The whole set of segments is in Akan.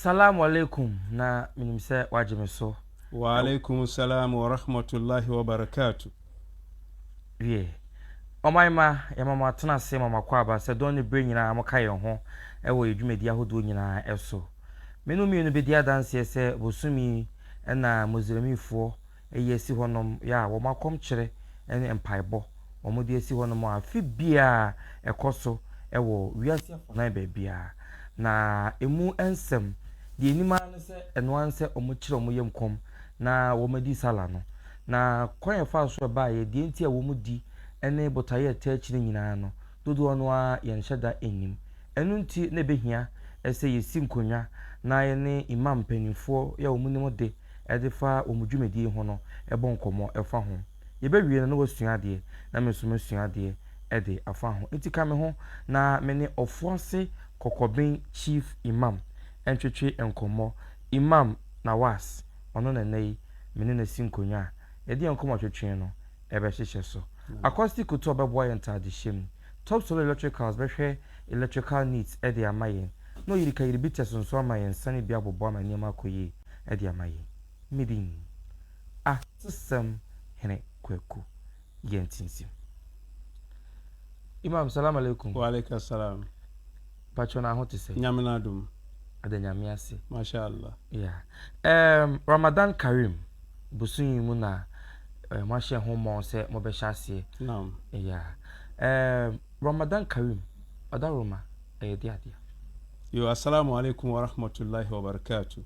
Salamu alaikum na menim sɛ wagye me so. Wa alaikum salam wa rahmatullahi wa barakatuh. Wie. Ɔman ma yɛma mo atena ase ma mo akɔ aba sɛ dɔn ne berɛ nyinaa moka yɛn ho wɔ yɛn dwumadi ahodoɔ nyinaa so. Me no mmienu bɛdi adanseɛ sɛ bosome yi na Muslimifoɔ Eyi asi hɔ nom ya a wɔn akɔmkyere ne mpaebɔ a wɔde asi hɔ nom a afe biara ɛkɔ so wɔ wiase afanan baabiara. Na emu nsɛm, deɛ ɛnim ara ne sɛ ɛno ara ne sɛ wɔkyerɛ wɔn yam kɔm na wɔadi Salah no. Na kwan a ɛfaa so ɛbaeɛ, deɛ nti a wɔdi ne botaeɛ a ɛtaa akyi no nyinaa no, dodoɔ no ara yɛnhyɛ da nnim. Ɛno nti na ɛbɛhia sɛ yɛsi nkonnwa na yɛne Imam mpanimfoɔ yi a wɔnim ade de fa wɔn dwumadie ho no bɔ nkɔmmɔ fa ho. Yɛbɛwie no na wɔasua adeɛ na me nso masua adeɛ de afa ho. Nti ka me ho na me ne Ɔfoase Kɔkɔben Chief Imam ntwetwe nkɔmmɔ. Imam Nawaas, ɔno na nnɛ yi me ne no asi nkonnwa a yɛde yɛn nkɔmmɔtwetwe no. bɛhyehyɛ so. Acoustic Kutuo bɛboa yɛn ntaadehyɛ mu. Top Solo Electricals bɛhwɛ electrical needs de ama yɛn, na Oyirika Yiribites nso ama yɛn nsa no bi aboboa ama nneɛma akɔ yie de ama yɛn. Me din, Atesɛm Hene Kwaku Yantinsim. Imam, Salaam Alaikum. Wa Alaikum Salaam. Mpakyɛw na ho te sɛn? Nyame no adom. Yɛda Nyame ase. Masha Allah. Yeah. Ɛɛm, Ramadan Kareem bosoom yi mu na ɛɛ moahyɛ ho mmɔ sɛ mobɛhyɛ aseɛ. Naam. Yeah. Ɛɛm, Ramadan Kareem, ɔdawuruma, ɛyɛ de adeɛ. Yo, Assalaamu alaikum wa rahmatullahi wa barakatuh.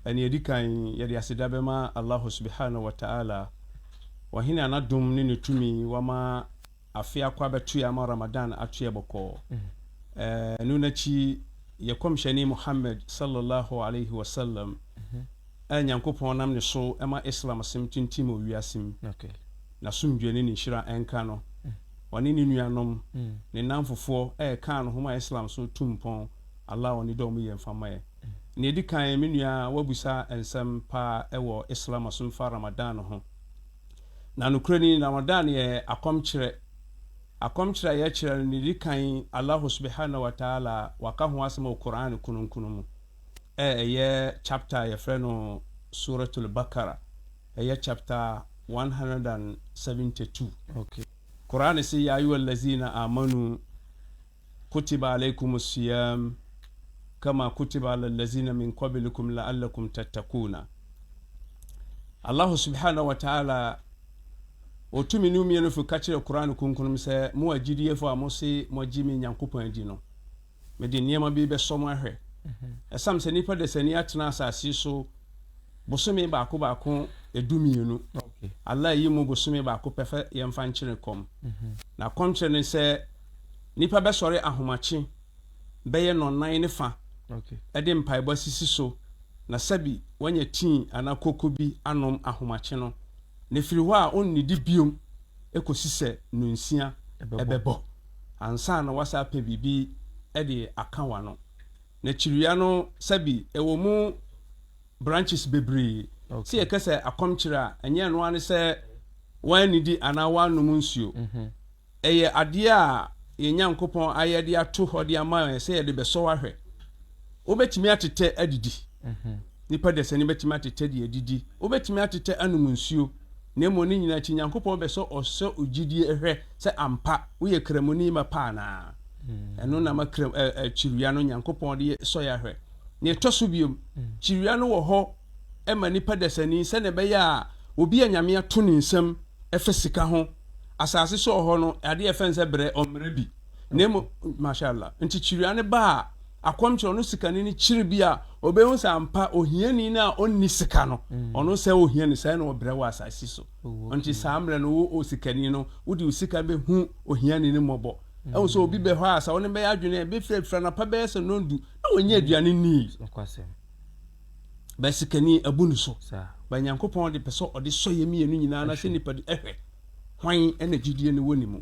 Ɛnea edi kan, yɛde aseda bɛma Allahu Subhanahu wa Ta'ala, Ɔhene a n'adom ne ne tumi wama, afe akɔ abɛtoɛ ama Ramadan atoɛ bɔkɔɔ. Ɛno no akyi, yɛ Kɔmhyɛni Muhammad sallallahu alaihi wa sallam a Nyankopɔn nam ne so ma Islam asem tintim wɔ wiase mu, n'asomdwoeɛ ne ne nhyira nka no, ɔne ne nuanom, ne nnamfofoɔ a yɛkaa no ho maa Islam so tu mpɔn, Allah a ɔne dɔ mu yɛ mfa mma yɛn. Nea ɛdi kan, me nua, woabisa nsɛm pa wɔ Islam asomfa Ramadan ho. Na nokorɛ ni, Ramadan yɛ akɔmkyerɛ. Akɔmkyerɛ a yɛkyerɛ no, deɛ ɛdi kan, Allahu subahanahu wa ta'ala waka ho asɛm wɔ Qur'aan Kronkron mu, ɛ ɛyɛ chapter a yɛfrɛ no Suratul Baqarah, ɛyɛ chapter one hundred and seventy two. Okay. Qur'aan se, Yaa ayuhal laziina aamanu Kutiba alaikum as-siyam kama kutiba ala al-lazina min qabilikum la'allakum tattaquuna. Allahu subhanahu wa ta'ala otumi ne mmienu fi ka kyerɛ Qur'an kunkun mu sɛ mo a gyidiefo a mo se mo agye me Nyankopɔn adi no mede nneɛma bi bɛsɔ mo ahwɛ ɛsam sɛ nipa dasani atena asase so bosome baako baako edu mmienu Allah yi mu bosome baako pɛ fa yɛmfa nkyene kɔm na kɔmkyerɛ ne sɛ Nnipa bɛsɔre ahomakye bɛyɛ nnɔnnan ne fã de mpaebɔ asisi so na sɛbi wanya tii anaa koko bi anom ahomakye no, na ɛfiri hɔ a ɔnnidi bio kɔsi sɛ nnɔnsia bɛbɔ ansa na woasan apɛ biribi de aka w'ano. Na kyiria no sɛbi ɛwɔ mu branches bebree. Sɛ yɛka sɛ akɔmkyere a, ɛnyɛ ɛno ara ne sɛ woannidi anaa woannom nsuo. Ɛyɛ adeɛ a yɛn Nyankopɔn ayɛ de ato hɔ de ama yɛn sɛ yɛde bɛsɔ ahwɛ. Wobɛtumi atetɛ adidi. Nnipa dasani bɛtumi atetɛ de adidi. Wobɛtumi atetɛ anom nsuo. Na mmom ne nyinaa akyi, Nyankopɔn bɛsɔ ɔsɔ gyidie hwɛ sɛ ampa woyɛ Kramoni ma pa anaa. Ɛno na ama kyirewa no Nyankopɔn de sɔ yɛn ahwɛ. Nea ɛtɔ so bio, kyirewa no wɔ hɔ ma nnipa dasani sɛnea ɛbɛyɛ a obi a Nyame ato ne nsam fa sika ho, asase so wɔ hɔ no, adeɛ a yɛfrɛ no sɛ brɛ, ɔmmrɛ bi. Na mmom, Mashallah, nti kyiria no ba a, akɔmkyerɛ, ɔno sikani no kyere bi a, ɔbɛhu sɛ ampa ohiani no a ɔnni sika no, ɔno sɛɛ ɔhia no, sɛɛ na ɔbrɛ wɔ asase so. Nti saa mmerɛ no, wo osikani no, wode wo sika bɛhu ohiani no mmɔbɔ. Ahu sɛ obi bɛ hɔ a, sɛ wo ne no bɛyɛ adwene a, ɛbɛfiri afiri anɔpa bɛyɛ sɛ nnɔndu, na wannya aduane nni. Bɛ sikani abu no so. Bɛ Nyankopɔn de pɛ sɛ ɔde sɔ yɛ mmienu nyinaa na sɛ nipa di ɛhwɛ hwan na gyidie no wɔ ne mu.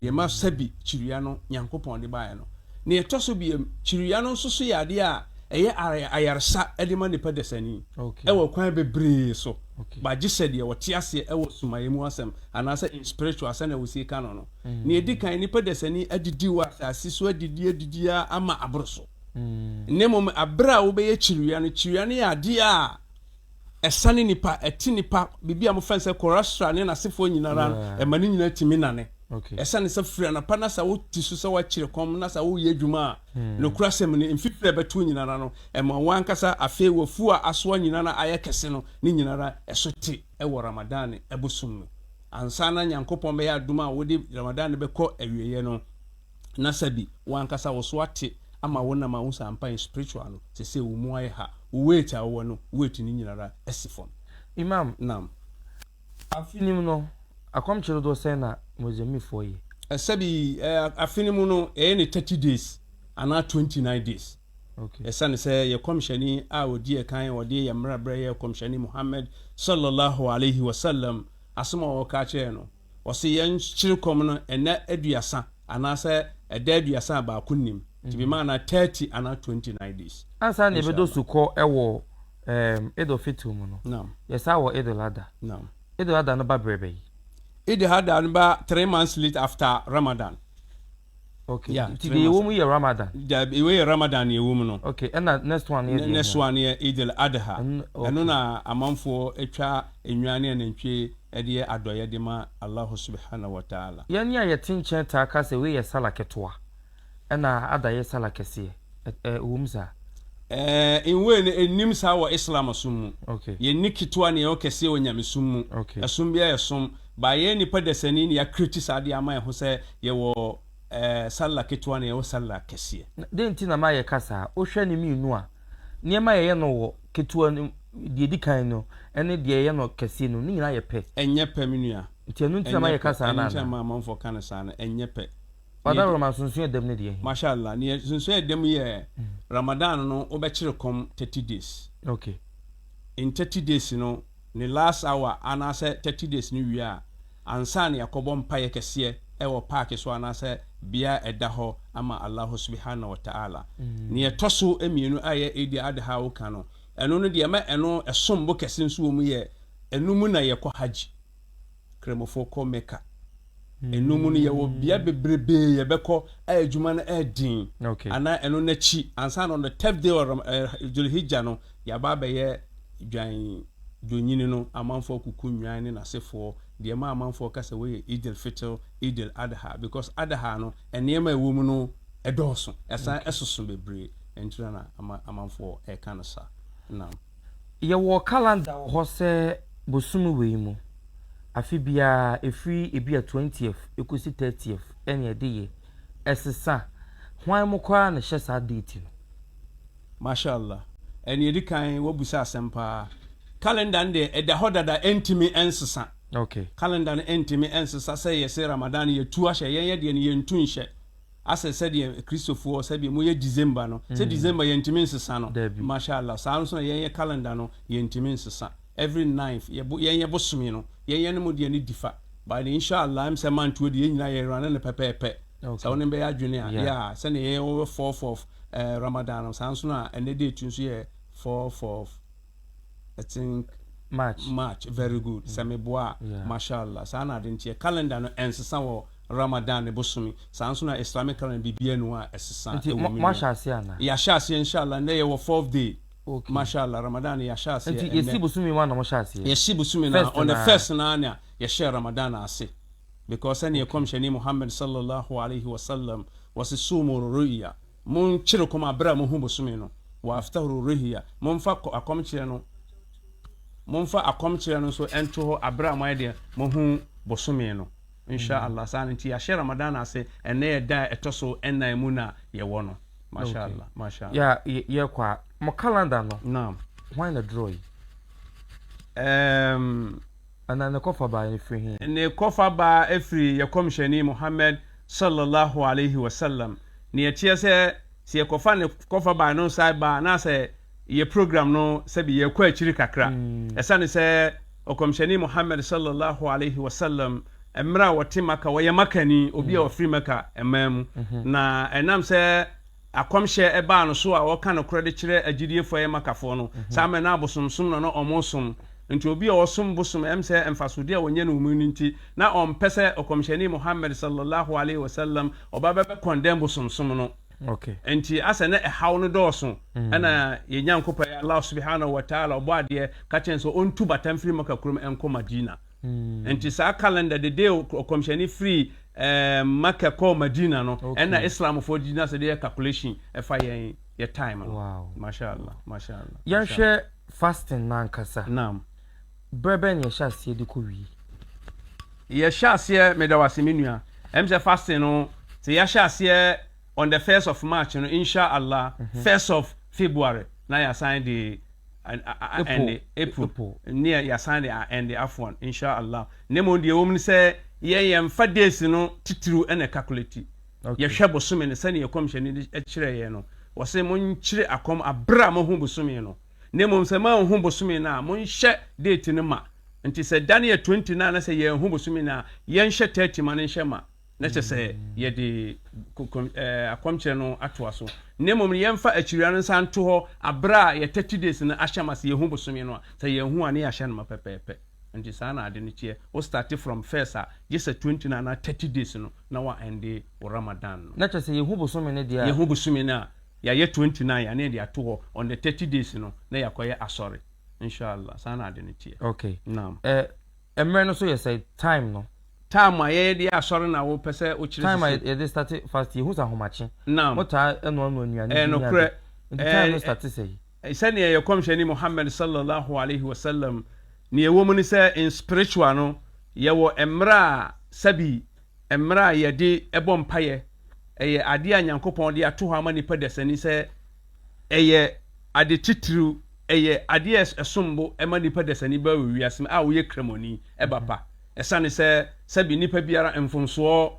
Deɛ ma sɛbi kyiria no Nyankopɔn de baeɛ no. Nea ɛtɔ so biam, kyiria no nso so yɛ adeɛ a ɛyɛ ayaresa de ma nipa dasani wɔ akwan bebree so ba gye sɛ deɛ ɔte aseɛ wɔ sumaeɛ mu asɛm anaasɛ in spiritual sɛnea wɔsie ka no no. Nea ɛdi kan, nipa dasani adidi wɔ asase so adidi adidi ara ama aboro so. na mmom bere a wobɛyɛ kyerewia no. Kyerewia no yɛ ade a ɛsane nipa, ɛte nipa, biribi a wɔfrɛ no sɛ Korasra ne n'asefoɔ nyinara no, ɛma ne nyinaa tumi nane. Ɛsane sɛ firi anapa na sɛ wote so sɛ woakyere kɔm na sɛ woyɛ adwuma a, nokorasɛm no, mfifiri a ɛbɛto nyinara no, ɛma wo ankasa afei w'afuo a asoa nyinara ayɛ kɛse no ne nyinara ɛso te wɔ Ramadane bosom no. Ansa na Nyankopɔn bɛyɛ adom a wode Ramadane no bɛkɔ awieɛ no, Na sɛ bi, wo ankasa wo so ate ama wo na ma wo sɛ ampa yɛ spiritual no te sɛ wo mu ayɛ ha, wo weight a wowɔ no weight no nyinara asi fam. Imam nam. Afe no mu no, akɔmkye dodoɔ sɛn na Mozambiquefoɔ yɛ? Sɛ bi, afe no mu no, ɛyɛ ne thirty days anaa twenty nine days. Okay. Ɛsiane sɛ yɛ kɔmhyɛni a ɔdi ɛkan a ɔde yɛ mmara brɛ yɛ kɔmhyɛni Muhammad, Sallallahu Alaihi Wasallam, asɛm a ɔka kyerɛɛ no, Wɔse yɛn kyere kɔm no ɛnɛ aduasa anaasɛ ɛda aduasa a baako nnim nti bi maa na thirty anaa twenty nine days. Ansa na yɛbɛdɔ Inshallah. sukɔ wɔ ɛɛm Eid al Fitr mu no, Naam. yɛsan wɔ Eid al Adha. Naam. Eid al Adha no ba berɛ bɛyi? Eid al Adha no ba three months late after Ramadan. Okay. Yeah, Nti deɛ ɛwɔ mu yɛ Ramadan. Dabi, wei yɛ Ramadan na ɛwɔ mu no. Okay, ɛna next one yɛ deɛ. Next one yɛ Eid al-Adha. Ɛno na amanfoɔ atwa nnwan ne anantwie de yɛ adɔeɛ de ma Allahu Subhanahu wa Ta'ala. Yɛn a yɛte nkyɛn taa ka sɛ wei yɛ Salah ketewa, ɛna Adha yɛ Salah kɛseɛ. Ɛwɔ mu saa? Eh, in way no ɛnnim saa wɔ Islam som mu. Okay. Yɛnni ketewa ne yɛwɔ kɛseɛ wɔ nyamesom mu. Okay. Ɛsom biara yɛ som. Ba yɛyɛ nipa dasani na yɛakreati saa adeɛ ama yɛn ho sɛ yɛwɔ eh, sallah ketewa na yɛwɔ sallah kɛseɛ. Na dɛn nti na na yɛka saa? Wohwɛ ne mmienu a, nneɛma a yɛyɛ no wɔ ketewa no, deɛ ɛdi kan no ne deɛ yɛyɛ no kɛseɛ no, ne nyinaa yɛ pɛ. Ɛnyɛ pɛ, me nua. Nti ɛno nti na ma yɛka saa no anaa? Ɛnyɛ pɛ, ɛno nti na ma amanfoɔ ka no saa no, ɛnyɛ pɛ. Father Roma, nsonsoɛ ɛda mu no deɛ ɛhe? Masha Allah, neɛ nsonsoɛ ɛda mu yɛ Ramadan no wobɛkyere kɔm 30 days. Okay. in thirty days no ne last hour anaasɛ thirty days no wie a, ansa na yɛakɔbɔ mpaeɛ kɛseɛ ɛwɔ park so anaasɛ bea a ɛda hɔ ama Allahu Subihana Wata'ala. Nea ɛtɔ so mmienu a ɛyɛ Eid Adha a woka no, ɛno no deɛ ɛma ɛno ɛsom bo kɛse nso wɔ mu yɛ ɛno mu na yɛkɔ Hajj. Kramofo kɔ Mecca. Ɛno mu no yɛwɔ bea bebrebee yɛbɛkɔ a adwuma no yɛ den. Anaa ɛno no akyi, ansa na on the tenth day of Dhul-Hijjah no, yɛaba abɛyɛ Dwan Dwonnyini no, amanfoɔ akuku nnwan ne n'asefoɔ, deɛ ɛma amanfoɔ ka sɛ wei yɛ Eid al-Fitr, Eid al-Adha, because Adha no, nneɛma a ɛwɔ mu no dɔɔso, ɛsan soso bebree, ɛno nti na na amanfoɔ ɛka no saa. Naam. Yɛwɔ calendar wɔ hɔ sɛ bosome wei mu afe biara ɛfiri ebia twentieth ɛkɔsi thirtieth ɛne ɛde yɛ ɛsesa hwan mu koraa na ɛhyɛ saa date no. Masha Allah. Ɛne ɛdi kan wabisa asɛm paa. Calendar no deɛ ɛda hɔ dada ɛntimi ɛnsesa. Okay. Calendar no ɛntimi ɛnsesa sɛ yɛse Ramadan yɛtu ahyɛ yɛn yɛ deɛ no yɛntu nhyɛ. asɛ sɛdeɛ akristofoɔ sɛdeɛ moyɛ December no sɛ December yɛntumi nsesa no Masha Allah saa nso na yɛn yɛ calendar no yɛntumi nsesa every ninth yɛ yɛn yɛ bosome no yɛn yɛne mo deɛ no difa but Insha Allah ɛm sɛ mantoɔ deɛ yɛn nyinaa yɛ rane no pɛpɛɛpɛ sɛ wo ne bɛyɛ adwene a yeah sɛdeɛ yɛyɛ wɔ fourth of eh, Ramadan no saa nso na ɛnɛ date nso yɛ fourth of I think March. March, very mm. good. Sɛ meboa a, yeah. mashallah. Saa na ade nteɛ. Calendar no ɛnsesa wɔ Ramadan ne bosome. Saa nso na Islamic calendar biribiara ni hɔ a ɛsesa ɛwɔ mu. Nti moahyɛ aseɛ ana? Yɛahyɛ aseɛ inshallah. Nnɛ yɛwɔ fourth day. Okay. Mashallah, Ramadan no yɛahyɛ aseɛ. Nti yɛsi bosome mu ana mohyɛ aseɛ? Yɛsi bosome na on the first na na yɛhyɛ Ramadan ase. Because sɛdeɛ ɛkɔmhyɛni Muhammad sallallahu alaihi wasallam wɔse sumu ru'ya Monkyere kɔm a bere a mohu bosome no, wɔ Aftahuru Rehia, momfa kɔ akɔmkyerɛ no, momfa akɔmkyerɛ no nso nto hɔ bere a moayɛ deɛ mohu bosome no. Insha Allah, saa no nti yɛahyɛ Ramadan ase, ɛnnɛ yɛ da a ɛtɔ so nnan mu na yɛwɔ no. Masha Allah, Masha Allah. Yeah, yɛkɔ a, mo calendar no, Naam. hwan na draw yi? Ɛɛm. Ana ne kɔfa baa he firi he? Ne kɔfa baa firi yɛ Kɔmhyɛni Muhammad salla Allahu alaihi wa sallam. Nea ɛteɛ sɛ, sɛ yɛkɔfa ne kɔfa baa no nsae baa anaasɛ yɛ program no sɛbe yɛɛkɔ akyiri kakra. Ɛsane sɛ Ɔkɔmhyɛni Muhammad salla Allahu alaihi wa sallam mmerɛ a ɔte Maka, ɔyɛ Makani, obi a ɔfiri Maka man mu, na ɛnam sɛ, Akɔmhyɛ a ɛbaa no so a ɔka nokorɛ de kyerɛ agyidiefo a ɛyɛ Makafoɔ no, saa mmerɛ no abosomsom na na wɔresom, nti obi a ɔresom bosom ɛm sɛ mfasodeɛ a ɔnya no mu no nti na ɔmpɛ sɛ Ɔkɔmhyɛni Muhammad Sallallahu Alaihi Wasallam ɔba bɛ bɛ kɔndɛm bosomsom no, nti asɛ na ɛhaw no dɔɔso, ɛna yɛn Nyankopɔn, Allaah Subhanahu Wa Taala, ɔbɔadeɛ, ka kyerɛɛ no sɛ ɔntu bata mfiri Maka kurom nkɔ Madina. Enti saa calendar de de ɔkɔmhyɛni firi Mecca kɔɔ Madina no, ɛna Islamfoɔ gyina sɛ de yɛ calculation ɛfa yɛn yɛ time no. Mashallah, mashallah. Yɛnhwɛ fasting no ankasa. Naam. Berɛ bɛn na yɛhyɛ aseɛ de kɔ wie? Yɛhyɛ aseɛ, meda wo ase me nua, ɛm sɛ fasting no sɛ yɛahyɛ aseɛ on the first of March no insha Allah first of February na yɛasan de a-a-a-ɛnde April neɛ yɛasan de a-ɛnde afwan insha Allah na mmom deɛ ɛwɔ mu ne sɛ yɛn yɛmfa days no titiriw ɛna ɛkakuleti yɛhwɛ bosome no sɛdeɛ ɛkɔmhyɛne de ɛkyerɛ yɛn no wɔse monkyere akɔm aberɛ a mohu bosome no na mmom sɛ moanhu bosome no a monhyɛ date no ma nti sɛ da no yɛ 20 no a na sɛ yɛanhu bosome no a yɛnhyɛ 30 ma no nhyɛ ma na kyerɛ sɛ yɛde kokom ɛɛ akɔmkyerɛ no atoa so, na mmom no yɛmfa akyiriwia no nsan nto hɔ abere a yɛ thirty days no ahyɛ ma sɛ yɛhu bosome no a, sɛ yɛnhu a ne yɛahyɛ no ma pɛpɛɛpɛ. Nti saa na ade no teɛ, wo starte from first a gye sɛ twenty no anaa thirty days no na wa ɛnde wo Ramadan no. Na kyerɛ sɛ yɛhu bosome no deɛ a. Yɛhu bosome no a, yɛayɛ twenty nine a ne yɛde ato hɔ on the thirty days no na yɛakɔyɛ asɔre. Insha'Allah saa na ade no teɛ. Okay. Naam. Ɛ. Ɛmmerɛ no so yɛ sɛn? Time no. Time a yɛyɛ de yɛ asɔre na wo pɛ sɛ wo kyerɛ sisi. Time a yɛde starte fasting, yɛhu sɛ ahomakye. Naam. Mo taa ɛnoa noa nnuane bi. Ɛyɛ nokorɛ. Nti time no starte sɛn? Sɛdeɛ yɛ kɔmhyɛni Muhammad sallallahu alaihi wasallam, neɛ ɛwɔ mu ne sɛ in spiritual no yɛwɔ ɛmmerɛ a sɛbi ɛmmerɛ a yɛde bɔ mpaeɛ ɛyɛ adeɛ a Nyankopɔn de ato hɔ ama nipa dasani sɛ Ɛyɛ ade titiriw, ɛyɛ ade a ɛsom bo ma nipa dasani bɛba wɔ wiase mu a ɔyɛ Kramoni, ɛba pa, ɛsane sɛ sɛbe nipa biara mfomsoɔ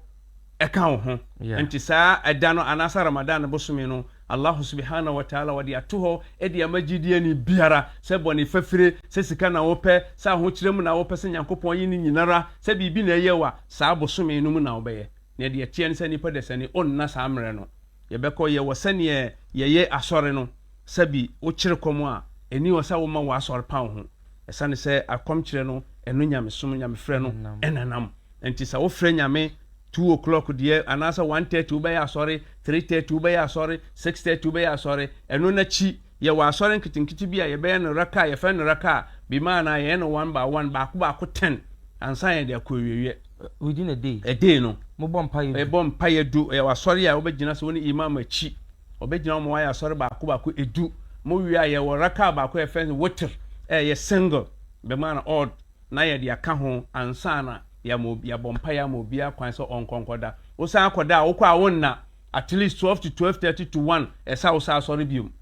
ka wo ho. Ɛnti saa ɛda no anaasɛ Ramadan bosome no, Allahu subahana watala ɔde ato hɔ de ama gyidieni biara, sɛ bɔne fafire, sɛ sika na wo pɛ, sɛ ahokyerɛ mu na wo pɛ, sɛ Nyankopɔn ayi ne nyinara, sɛ biribi na ɛyɛ wo a, saa bosome no mu na wo bɛyɛ. Na deɛ ɛteɛ ne sɛ nipa dasani ɔnna saa mmerɛ no. Yɛbɛkɔ, yɛwɔ sɛdeɛ yɛyɛ asɔre no, sɛbi wokyere kɔm a, ɛni hɔ sɛ woma w'asɔre paw ho, ɛsane sɛ akɔmkyerɛ no ɛno nyamesom, nyamefrɛ no ɛnenam, ɛnti sɛ wofrɛ nyame two o'clock deɛ anaasɛ one thirty wobɛyɛ asɔre, three thirty wobɛyɛ asɔre, six thirty wobɛyɛ asɔre, ɛno nakyi Yɛwɔ asɔre nketenkete bi a yɛbɛyɛ no raka a yɛfrɛ no raka a bimaana yɛyɛ no one by one, baako baako ten ansa yɛde akɔ awieeɛ. Within a day. A day no. Mobɔ mpaeɛ du. Ɛbɔ mpaeɛ du. Yɛwɔ asɔre a wobɛgyina sɛ wo ne imam akyi. Wɔbɛgyina wɔn ayɛ asɔre baako baako edu. Mowie a yɛwɔ raka baako a yɛfrɛ no witr a ɛyɛ single bimaana odd na yɛde aka ho ansa na yɛabɔ mpaeɛ ama obiara kwan sɛ ɔnkɔ nkɔda. Wosan kɔda a wokɔ a wonna. At least twelve to twelve thirty to one ɛsɛ a wosan asɔre biom.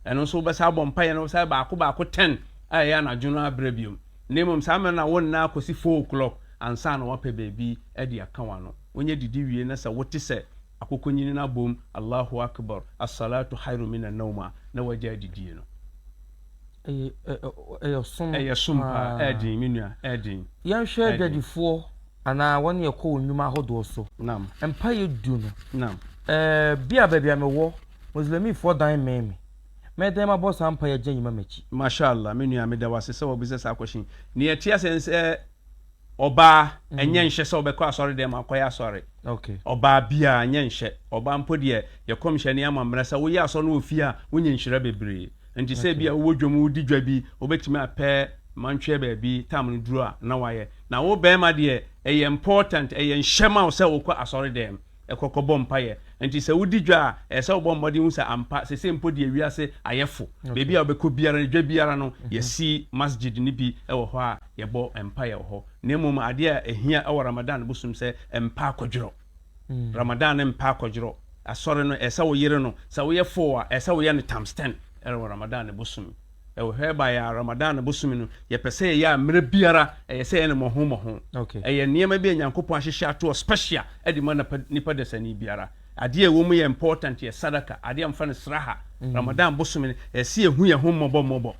Ɛno nso wobɛsan abɔ mpaeɛ na wosane baako baako ten a ɛyɛ anadwo no ara berɛ biom. Na mmom saa mmerɛ no na wonna ara kɔsi four o'clock ansa na woapɛ baabi de aka w'ano. Wonyɛ didi wie na sɛ wote sɛ akokɔnyini no abom Allahu Akbar, As-salatu hairun mina naum a, na woagyae didie no. Ɛyɛ ɛ ɛ ɛyɛ ɔsom paa. Ɛyɛ som paa. Ɛyɛ den, me nua, ɛyɛ den. Yɛnhwɛ adwadifoɔ anaa wɔn a wɔkɔ wɔn nnwuma ahodoɔ so. Naam. Mpaeɛ du no. Naam. Ɛɛ bi a baabi a me wɔ, Muslimifoɔ dan mmɛn me. Mɛ dɛn mabɔ saa mpaeɛ agya yi ma m'akyi? Masha Allah, me nua, meda wo ase sɛ wabisa saa question yi. Nea ɛte aseɛ ne sɛ, Ɔbaa, ɛnyɛ nhyɛ sɛ ɔbɛkɔ asɔredɛm akɔyɛ asɔre. Ɔbaa biara, ɛnyɛ nhyɛ. Ɔbaa mpo deɛ, yɛ kɔmhyɛni ama mmerɛ sɛ woyɛ asɔre no wɔ fie a, wonya nhyira bebree. Nti sɛ ebia wowɔ dwam, wodi dwa bi, wobɛtumi apɛ mantweɛ baabi, tam no duru a, na woayɛ. Na wo bɛɛma deɛ, ɛyɛ important, ɛyɛ nhyɛ ma wo sɛ wokɔ asɔredɛm. kɔ kɔbɔ mpaeɛ. Enti sɛ wodi dwa a, ɛsɛ sɛ wobɔ mmɔden hu sɛ ampa seesei mpo deɛ wiase ayɛ fo. Baabi a wobɛkɔ biara no, dwa biara no, yɛasi masjid no bi wɔ hɔ a yɛbɔ mpaeɛ wɔ hɔ. Na mmom adeɛ a ɛhia wɔ Ramadan bosom sɛ mpa akɔdworɔ. Ramadan no mpa akɔdworɔ. Asɔre no, ɛsɛ sɛ woyere no. Sɛ woyɛ foo a, ɛsɛ sɛ woyɛ no times ten wɔ Ramadan bosom mu. Ɛwɔ hɔ ɛbaeɛ a Ramadan bosome no yɛpɛ sɛ yɛyɛ a mmerɛ biara ɛyɛ sɛ yɛne mmɔho mmɔho. Ɛyɛ nneɛma bi a Nyankopɔn ahyehyɛ atoɔ special de ma nipa dasani biara. Adeɛ a ɛwɔ mu yɛ important yɛ sadaka, adeɛ a wɔfrɛ no sraha. Ramadan bosome no ɛyɛ sɛ yɛhu yɛn ho mmɔbɔ mmɔbɔ.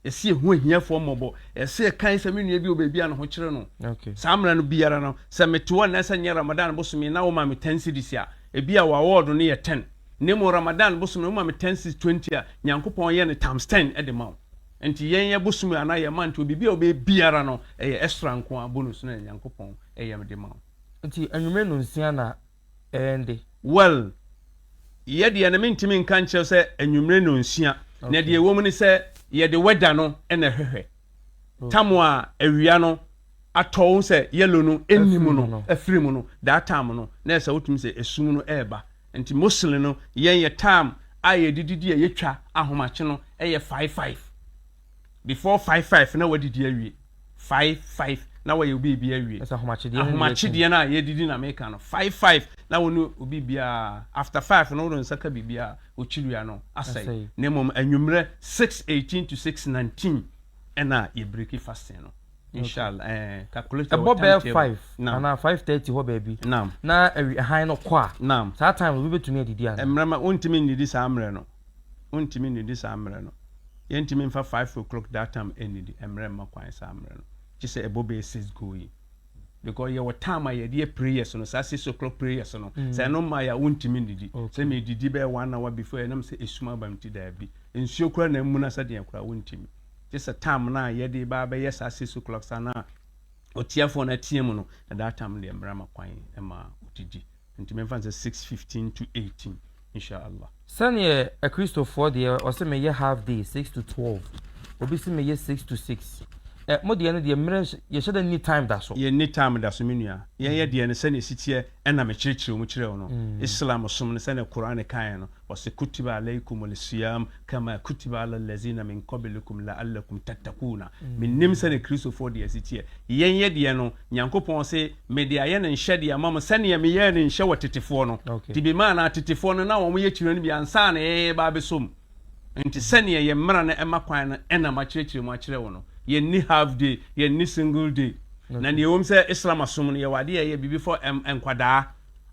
Ɛyɛ sɛ yɛhu ahiafoɔ mmɔbɔ. Ɛyɛ sɛ yɛkae sɛ me nua bi wɔ baabi a ne ho kyere no. Saa mmerɛ no biara no sɛ mete hɔ anaasɛ nyɛ Ramadan bosome na wɔma me ten cedis a, ebia w'award no yɛ ten. na mmom Ramadan bosom no woma me ten seeds twenty a Nyankopɔn yɛ no times ten de ma wo nti yɛn yɛ bosom yi anaa yɛ month obibi a wobɛyɛ biara no ɛyɛ extra nko ara bonus no na Nyankopɔn yɛ me de ma wo. Nti anwummerɛ nonsia na ɛyɛ nde? Well yɛ deɛ no mentumi nka nkyerɛ wo sɛ anwummerɛ nonsia na deɛ ɛwɔ mu ne sɛ yɛde weather no na ɛhwehwɛ tam a awia no atɔ wo sɛ yellow no ɛnni mu no afiri mu no that time no na ɛsɛ wotumi sɛ ɛsum no ɛɛba Nti mostly no yɛn yɛ time a yɛde didi a yɛtwa ahomakye no yɛ five five. Before five five na wadidi awie. Five five na wayɛ obi ebi awie. Ɛsɛ ahomakye deɛ no deɛ Ahomakye deɛ no a yɛdidi na meka no five five na wo ne obi biara after five no wode nsa ka biribiara okyiria no asɛe. Na mmom anwummerɛ six eighteen to six nineteen ɛna yɛ breaki fasting no. Ɛbɔ bɛyɛ five anaa five thirty hɔ baabi na awi hann no kɔ a, saa time no obi betumi adidi anaa? Mmarima wontumi nnidi saa mmerɛ no, wontumi nnidi saa mmerɛ no. Yɛntumi mfa five o'clock that time nnidi, ɛmmrɛ mma kwan saa mmerɛ no. Gye sɛ ɛbɔ bɛyɛ six going because yɛwɔ time a yɛde yɛ prayers no, saa six o'clock prayers no, sɛ ɛno mmaeɛ a wontumi nnidi. Sɛ medidi bɛyɛ one hour before ɛnam sɛ esum aba me ti, daabi. Nsuo koraa na amuna sɛdeɛ koraa wontumi. Gye sɛ tam no a yɛde reba abɛyɛ saa six o'clock saa no a ɔtiafoɔ no atea mu no, na that time deɛ mmara ma kwan ma ɔdidi. Nti memfa no sɛ six fifteen to eighteen, Insha'Allah. Sɛdeɛ Akristofoɔ deɛ ɔse meyɛ half day, six to twelve, obi se meyɛ six to six. Ɛ, mo deɛ no deɛ mmerɛ, yɛhyɛ da nni time da so. Yɛnni time da so, me nua. Yɛn yɛ deɛ no sɛdeɛ ɛsi teɛ na mekyerɛkyerɛ mu kyerɛɛ wo no. Islam som no sɛdeɛ Qur'aan kaeɛ no, Ɔse, Kutiba alaykumul siyaam kamaa kutiba ala laziina min qablikum la'allakum tattaquuna. Mennim sɛdeɛ Kristofoɔ deɛ si teɛ. Yɛn yɛ deɛ no, Nyankopɔn se, Mede ayɛ no nhyɛdeɛ ama mo sɛdeɛ meyɛɛ no nhyɛ wɔ tetefoɔ no. Nti bimaanaa tetefoɔ no na wɔyɛ kyire no bi ansa na yɛreba abɛsɔ mu. Nti sɛdeɛ yɛn mmara no ma kwan no na makyerɛkyerɛ mu akyerɛ wo no. Yɛnni half day, yɛnni single day. Na deɛ ɛwom sɛ Islam som no yɛwɔ adeɛ a ɛyɛ biribi for nkwadaa,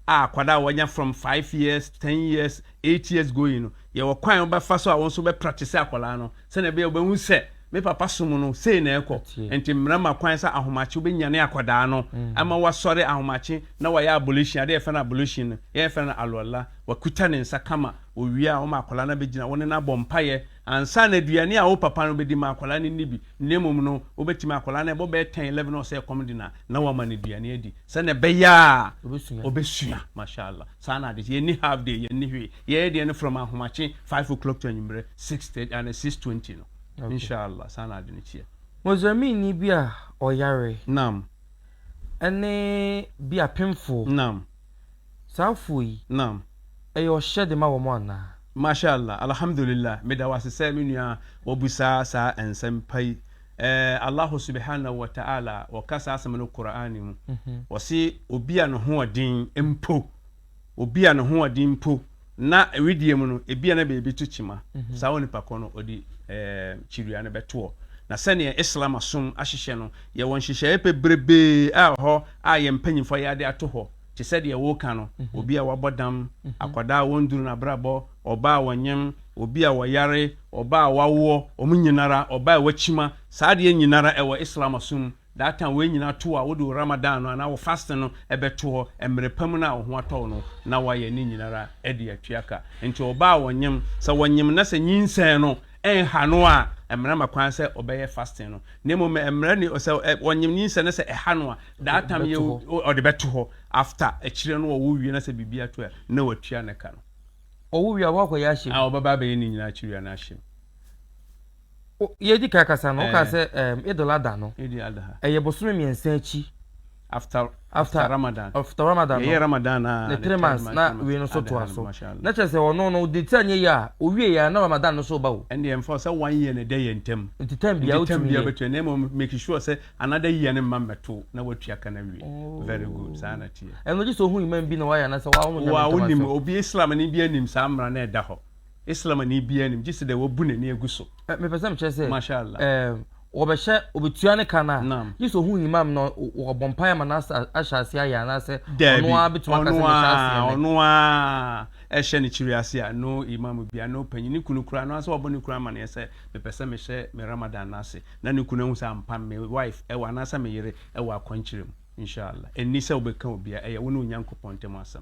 a akwadaa a wɔanya from five years, ten years, eight years going no, yɛwɔ kwan a wobɛfa so a wo nso wobɛpraktise akwadaa no sɛnea ɛbɛyɛ a wobɛhu sɛ me papa som no sei na ɛkɔ. Enti mmara ma kwan sɛ ahomakye wobɛnyane akwadaa no ama wasɔre ahomakye na wayɛ abolition, adeɛ a yɛfrɛ no abolition no, yɛn yɛfrɛ no alwala, wakuta ne nsa kama, wɔwie a woma akwadaa no abɛgyina, wo ne no abɔ mpaeɛ, Ansa na aduane a wo papa no bɛdi ma akwadaa no nni bi, na mmom no, wobɛtumi, akwadaa no ɛbɔ bɛyɛ ten, eleven, na ɔsɛ ɛkɔm de no a, na woama no aduane adi, sɛdeɛ ɛbɛyɛ a ɔbɛsua. Mashallah. Saa na ade, yɛnni half day, yɛnni hwee. Yɛyɛ deɛ no from ahomakye, five o'clock to anwummerɛ, six thirty, anaa six twenty no. Inshallah, saa na ade no teɛ. Mozambiqueni bi a ɔyare. Naam. Ɛne bi apemfoɔ. Naam. Saa afuo yi. Naam. Ɛyɛ ɔhyɛ de ma wɔn anaa? Masha Allah Alhamdulillah meda wo ase sɛ me nua wabusaa saa nsɛm pa yi ɛɛ Allahu subihanahu wa ta'ala ɔka saa asɛm no Qur'aan mu ɔse obi a ne hoɔden mpo obi a ne hoɔden mpo Na wedeɛ mu no, ebia na baabi to kyima, mhm. saa onipa kɔ no ɔde kyiria no bɛtoɔ. Na sɛdeɛ Islam asom ahyehyɛ no, yɛwɔ nhyehyɛeɛ pebrebee a hɔ a yɛn mpanyimfoɔ yɛ ade ato hɔ te sɛ deɛ wɔka no mhm. obi a wabɔ dam mhm. akwadaa a wɔnduru n'abrabɔ ɔbaa a wɔnyem obi a wɔyare ɔbaa a wawoɔ wɔn nyinara ɔbaa a wakyima saa adeɛ nyinara ɛwɔ islam asom That time wei nyina to wo a wode wo Ramadan no anaa wo fasting no bɛto hɔ mmerɛ pa mu no a wo ho atɔ wo no na woayɛ ne nyinara de atwia ka. Nti ɔbaa a ɔnyem, sɛ ɔnyem na sɛ nyinsɛn no nha no a, mmara ma kwan sɛ ɔbɛyɛ fasting no. Na mmom mmara ni sɛ ɔnyem nyinsɛn na sɛ ɛha no a, that time yɛ ɔde bɛto hɔ after akyire no ɔwo wie na sɛ biribi ato a na watua ne ka no. Ɔwo wie a, wakɔyɛ ahyem? Aah ɔbɛba abɛyɛ ne nyina akyire wia no ahyem. Yɛdi kan kasa no, wokaa sɛ um, Eid al-Adha no. Eid al-Adha. Ɛyɛ bosome mmiɛnsa akyi. After, after, after Ramadan. After Ramadan no. Yɛyɛ Ramadan na. Ne three months na wei no so toa so. Na kyerɛ sɛ ɔno no, de ti anyɛ yie a, owie yɛ a na Ramadan no so ba o. Ɛnde ɛmfa sɛ one year na ɛda yɛn ntam. Nti time bia wotumi yɛ. Time bia bɛtua, na mmom make sure sɛ another year no mma mmɛto na watua ka no awie. Oh. Very good, saa na teɛ. Ɛno gye sɛ ohu imam bi na wayɛ anasɛ wawo no nyame ntam asɛm. Wa wonim, obi Islam ne bi anim saa mmara na ɛda hɔ. Islamni biara nnim gye sɛ dɛ wabu n'ani agu so. Ɛ, mepɛ sɛ mekyerɛ sɛ, Masha Allah. ɛɛ, wɔbɛhyɛ, obetua ne ka no a, Naam. gye sɛ ohu Imam no, ɔ, ɔ, wɔabɔ mpaeɛ ama no asa, ahyɛ aseɛ ayɛ anaasɛ ɔno Daabi, ara betumi aka sɛ ɔno mehyɛ aseɛ ara, nnɛ. ɔno ara ɛhyɛ ne kyiri ase a, no Imam biara, no panyin, ne kunu koraa, no ara sɛ wabɔ ne kunu amaneɛ sɛ, mepɛ sɛ mehyɛ me Ramadan no ase, na ne kunu ahu sɛ ampa me wife ɛwɔ anaasɛ me yere ɛwɔ akwankyerɛ mu. Insha Allah. Ɛnni sɛ wobɛka obiara, ɛyɛ wo ne Onyankopɔn ntam asɛm.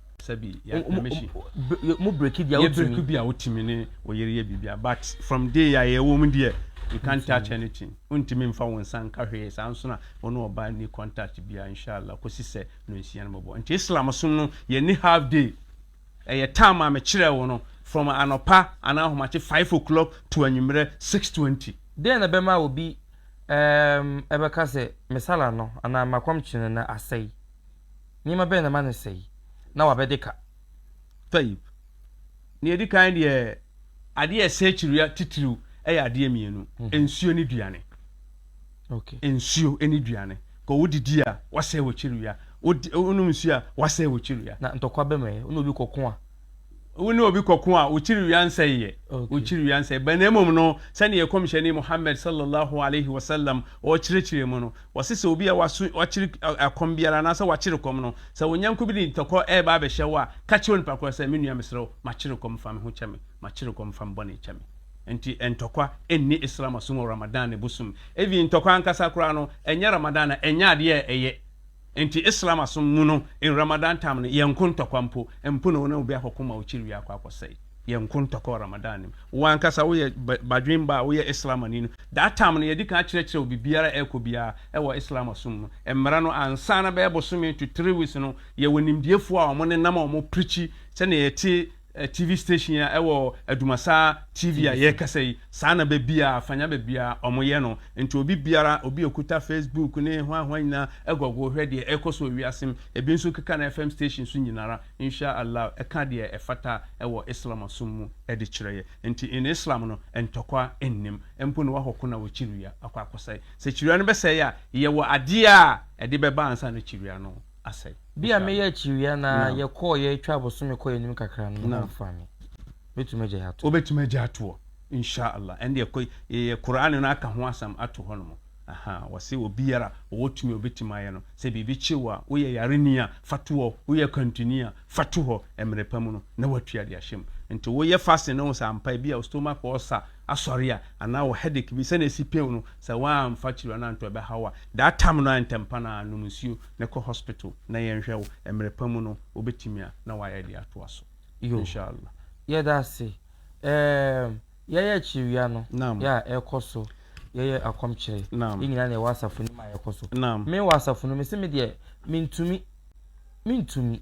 sɛbi mo breki bia wotumi breki bia wotumi ne oyere yɛ bibia but from day a yɛwɔ mu deɛ you can't touch anything wontumi mfa wo nsa nka hwee saa nso na wo ne ɔbaa ni contact bia inshallah kɔsi sɛ no nsia no bɔbɔ nti islam som no yɛni half day ɛyɛ time a mekyerɛ wo no from anɔpa anaa ahomakye 5 o'clock to anwummerɛ 620 deɛ na bɛma obi ɛbɛka sɛ mesala no anaa makɔmkye no na asɛe Nneɛma bɛn na ɛma no sɛe na wabɛde ka? Taib. Nea edi kan deɛ, adeɛ a ɛsɛe kyirewa titiriw yɛ adeɛ mmienu, nsuo ne duane. Okay. Nsuo ne duane. Kɔ wodidi a, wasɛe wo kyirewa. Wodi, wonom nsuo a, wasɛe wo kyirewa. Na ntɔkwa bɛm ɛ, wo ne obi kɔko a. Wo ne obi kɔko a, okyiri wia nsɛe yɛ. Okyiri wia nsɛe bɛ. Na mmom no, sɛdeɛ Kɔmhyɛni Muhammad sallallahu alaihi wa sallam ɔkyerɛkyerɛɛ mu no, ɔse sɛ obi a waso, wakyere ɛkɔm biara anaasɛ wakyere kɔm no, sɛ wo nyɛnko bi de ntɔkɔ ɛreba abɛhyɛ wo a, ka kyerɛ onipa korɔ sɛ, Me nua, mesrɛ wo, makyere kɔm, fa me ho kyɛ me. Makyere kɔm, fa me bɔne kyɛ me. Enti ntɔkwa nni Islam asom wɔ Ramadan bosom. Even ntɔkwa ankasa koraa no, ɛnyɛ Ramadan a, ɛnyɛ adeɛ a ɛyɛ. Enti Islam asom mu no in Ramadan time no yɛnko ntɔkwa mpo, mpo na wo ne obi akɔko ma wo kyiri wie akɔ akɔsɛe. Yɛnko ntɔkwa wɔ Ramadan no mu. Wo ankasa woyɛ badwen ba a woyɛ Islamani no, that time no yɛdi kan akyerɛkyerɛ wo biribiara a ɛrekɔ biara ɛwɔ Islam asom mu, mmara no ansa na bɛyɛ bosome to three weeks no yɛwɔ nimdiefoɔ a wɔn nenam a wɔn preachi sɛdeɛ yɛte TV station a ɛwɔ Adumasa TV a yɛrekasa yi, saa na baabiara, fanya baabiara wɔyɛ no. Nti obi biara, obi a okuta Facebook ne hwan hwan nyinaa, ɛgɔgoo hwɛ deɛ ɛrekɔ so wɔ wiase mu. Ebi nso keka no FM station so nyina ara. Insha Allah, ɛka deɛ ɛfata wɔ Islam som mu de kyerɛ yɛ. Nti in Islam no, ntɔkwa nnim. Mpo na woahɔ ko na wo kyirewa akɔ akɔsɛe. Sɛ kyirewa no bɛsɛe a, yɛwɔ adeɛ a ɛde bɛba ansa na kyirewa no. asɛe. Bere a meyɛ akyiwea no ara yɛkɔɔ yɛ twaa bosome kɔɔ anim kakra no, me ho mfaa me. Mɛtumi agyae atoɔ. Wobɛtumi agyae atoɔ? Insha'Allah. Ɛndeɛ kɔ yɛyɛ Qur'an no aka ho asɛm ato hɔ nom. Ahaa, wɔse obiara a ɔwɔ tumi a ɔbɛtumi ayɛ no, sɛ biribi kye wo a, woyɛ yareni a, fa to hɔ, woyɛ kwantuni a, fa to hɔ, mmerɛ pa mu no na woatua de ahyɛ mu. Nti woyɛ fasting na wohu sɛ ampa ebia wo stomach ulcer, asɔre a anaa wɔ headache bi sɛnea esi pew no sɛ woamfa kyiri anaa ntɔ ɛbɛhaw a that time no ara ntɛmpa no ara nom nsuo na kɔ hospital na yɛnhwɛ wo mmerɛ pa mu no wobɛtumi a na wayɛ de atoa so inshallah. Yɛda ase. Ɛɛm, yɛyɛ akyiriwia no, Naam. yɛ a ɛkɔ so, yɛyɛ akɔmkyere, Naam. yɛn nyinaa na yɛwɔ asafo no mu a yɛkɔ so. Naam. Me wɔ asafo no mu, mese me deɛ mentumi, mentumi.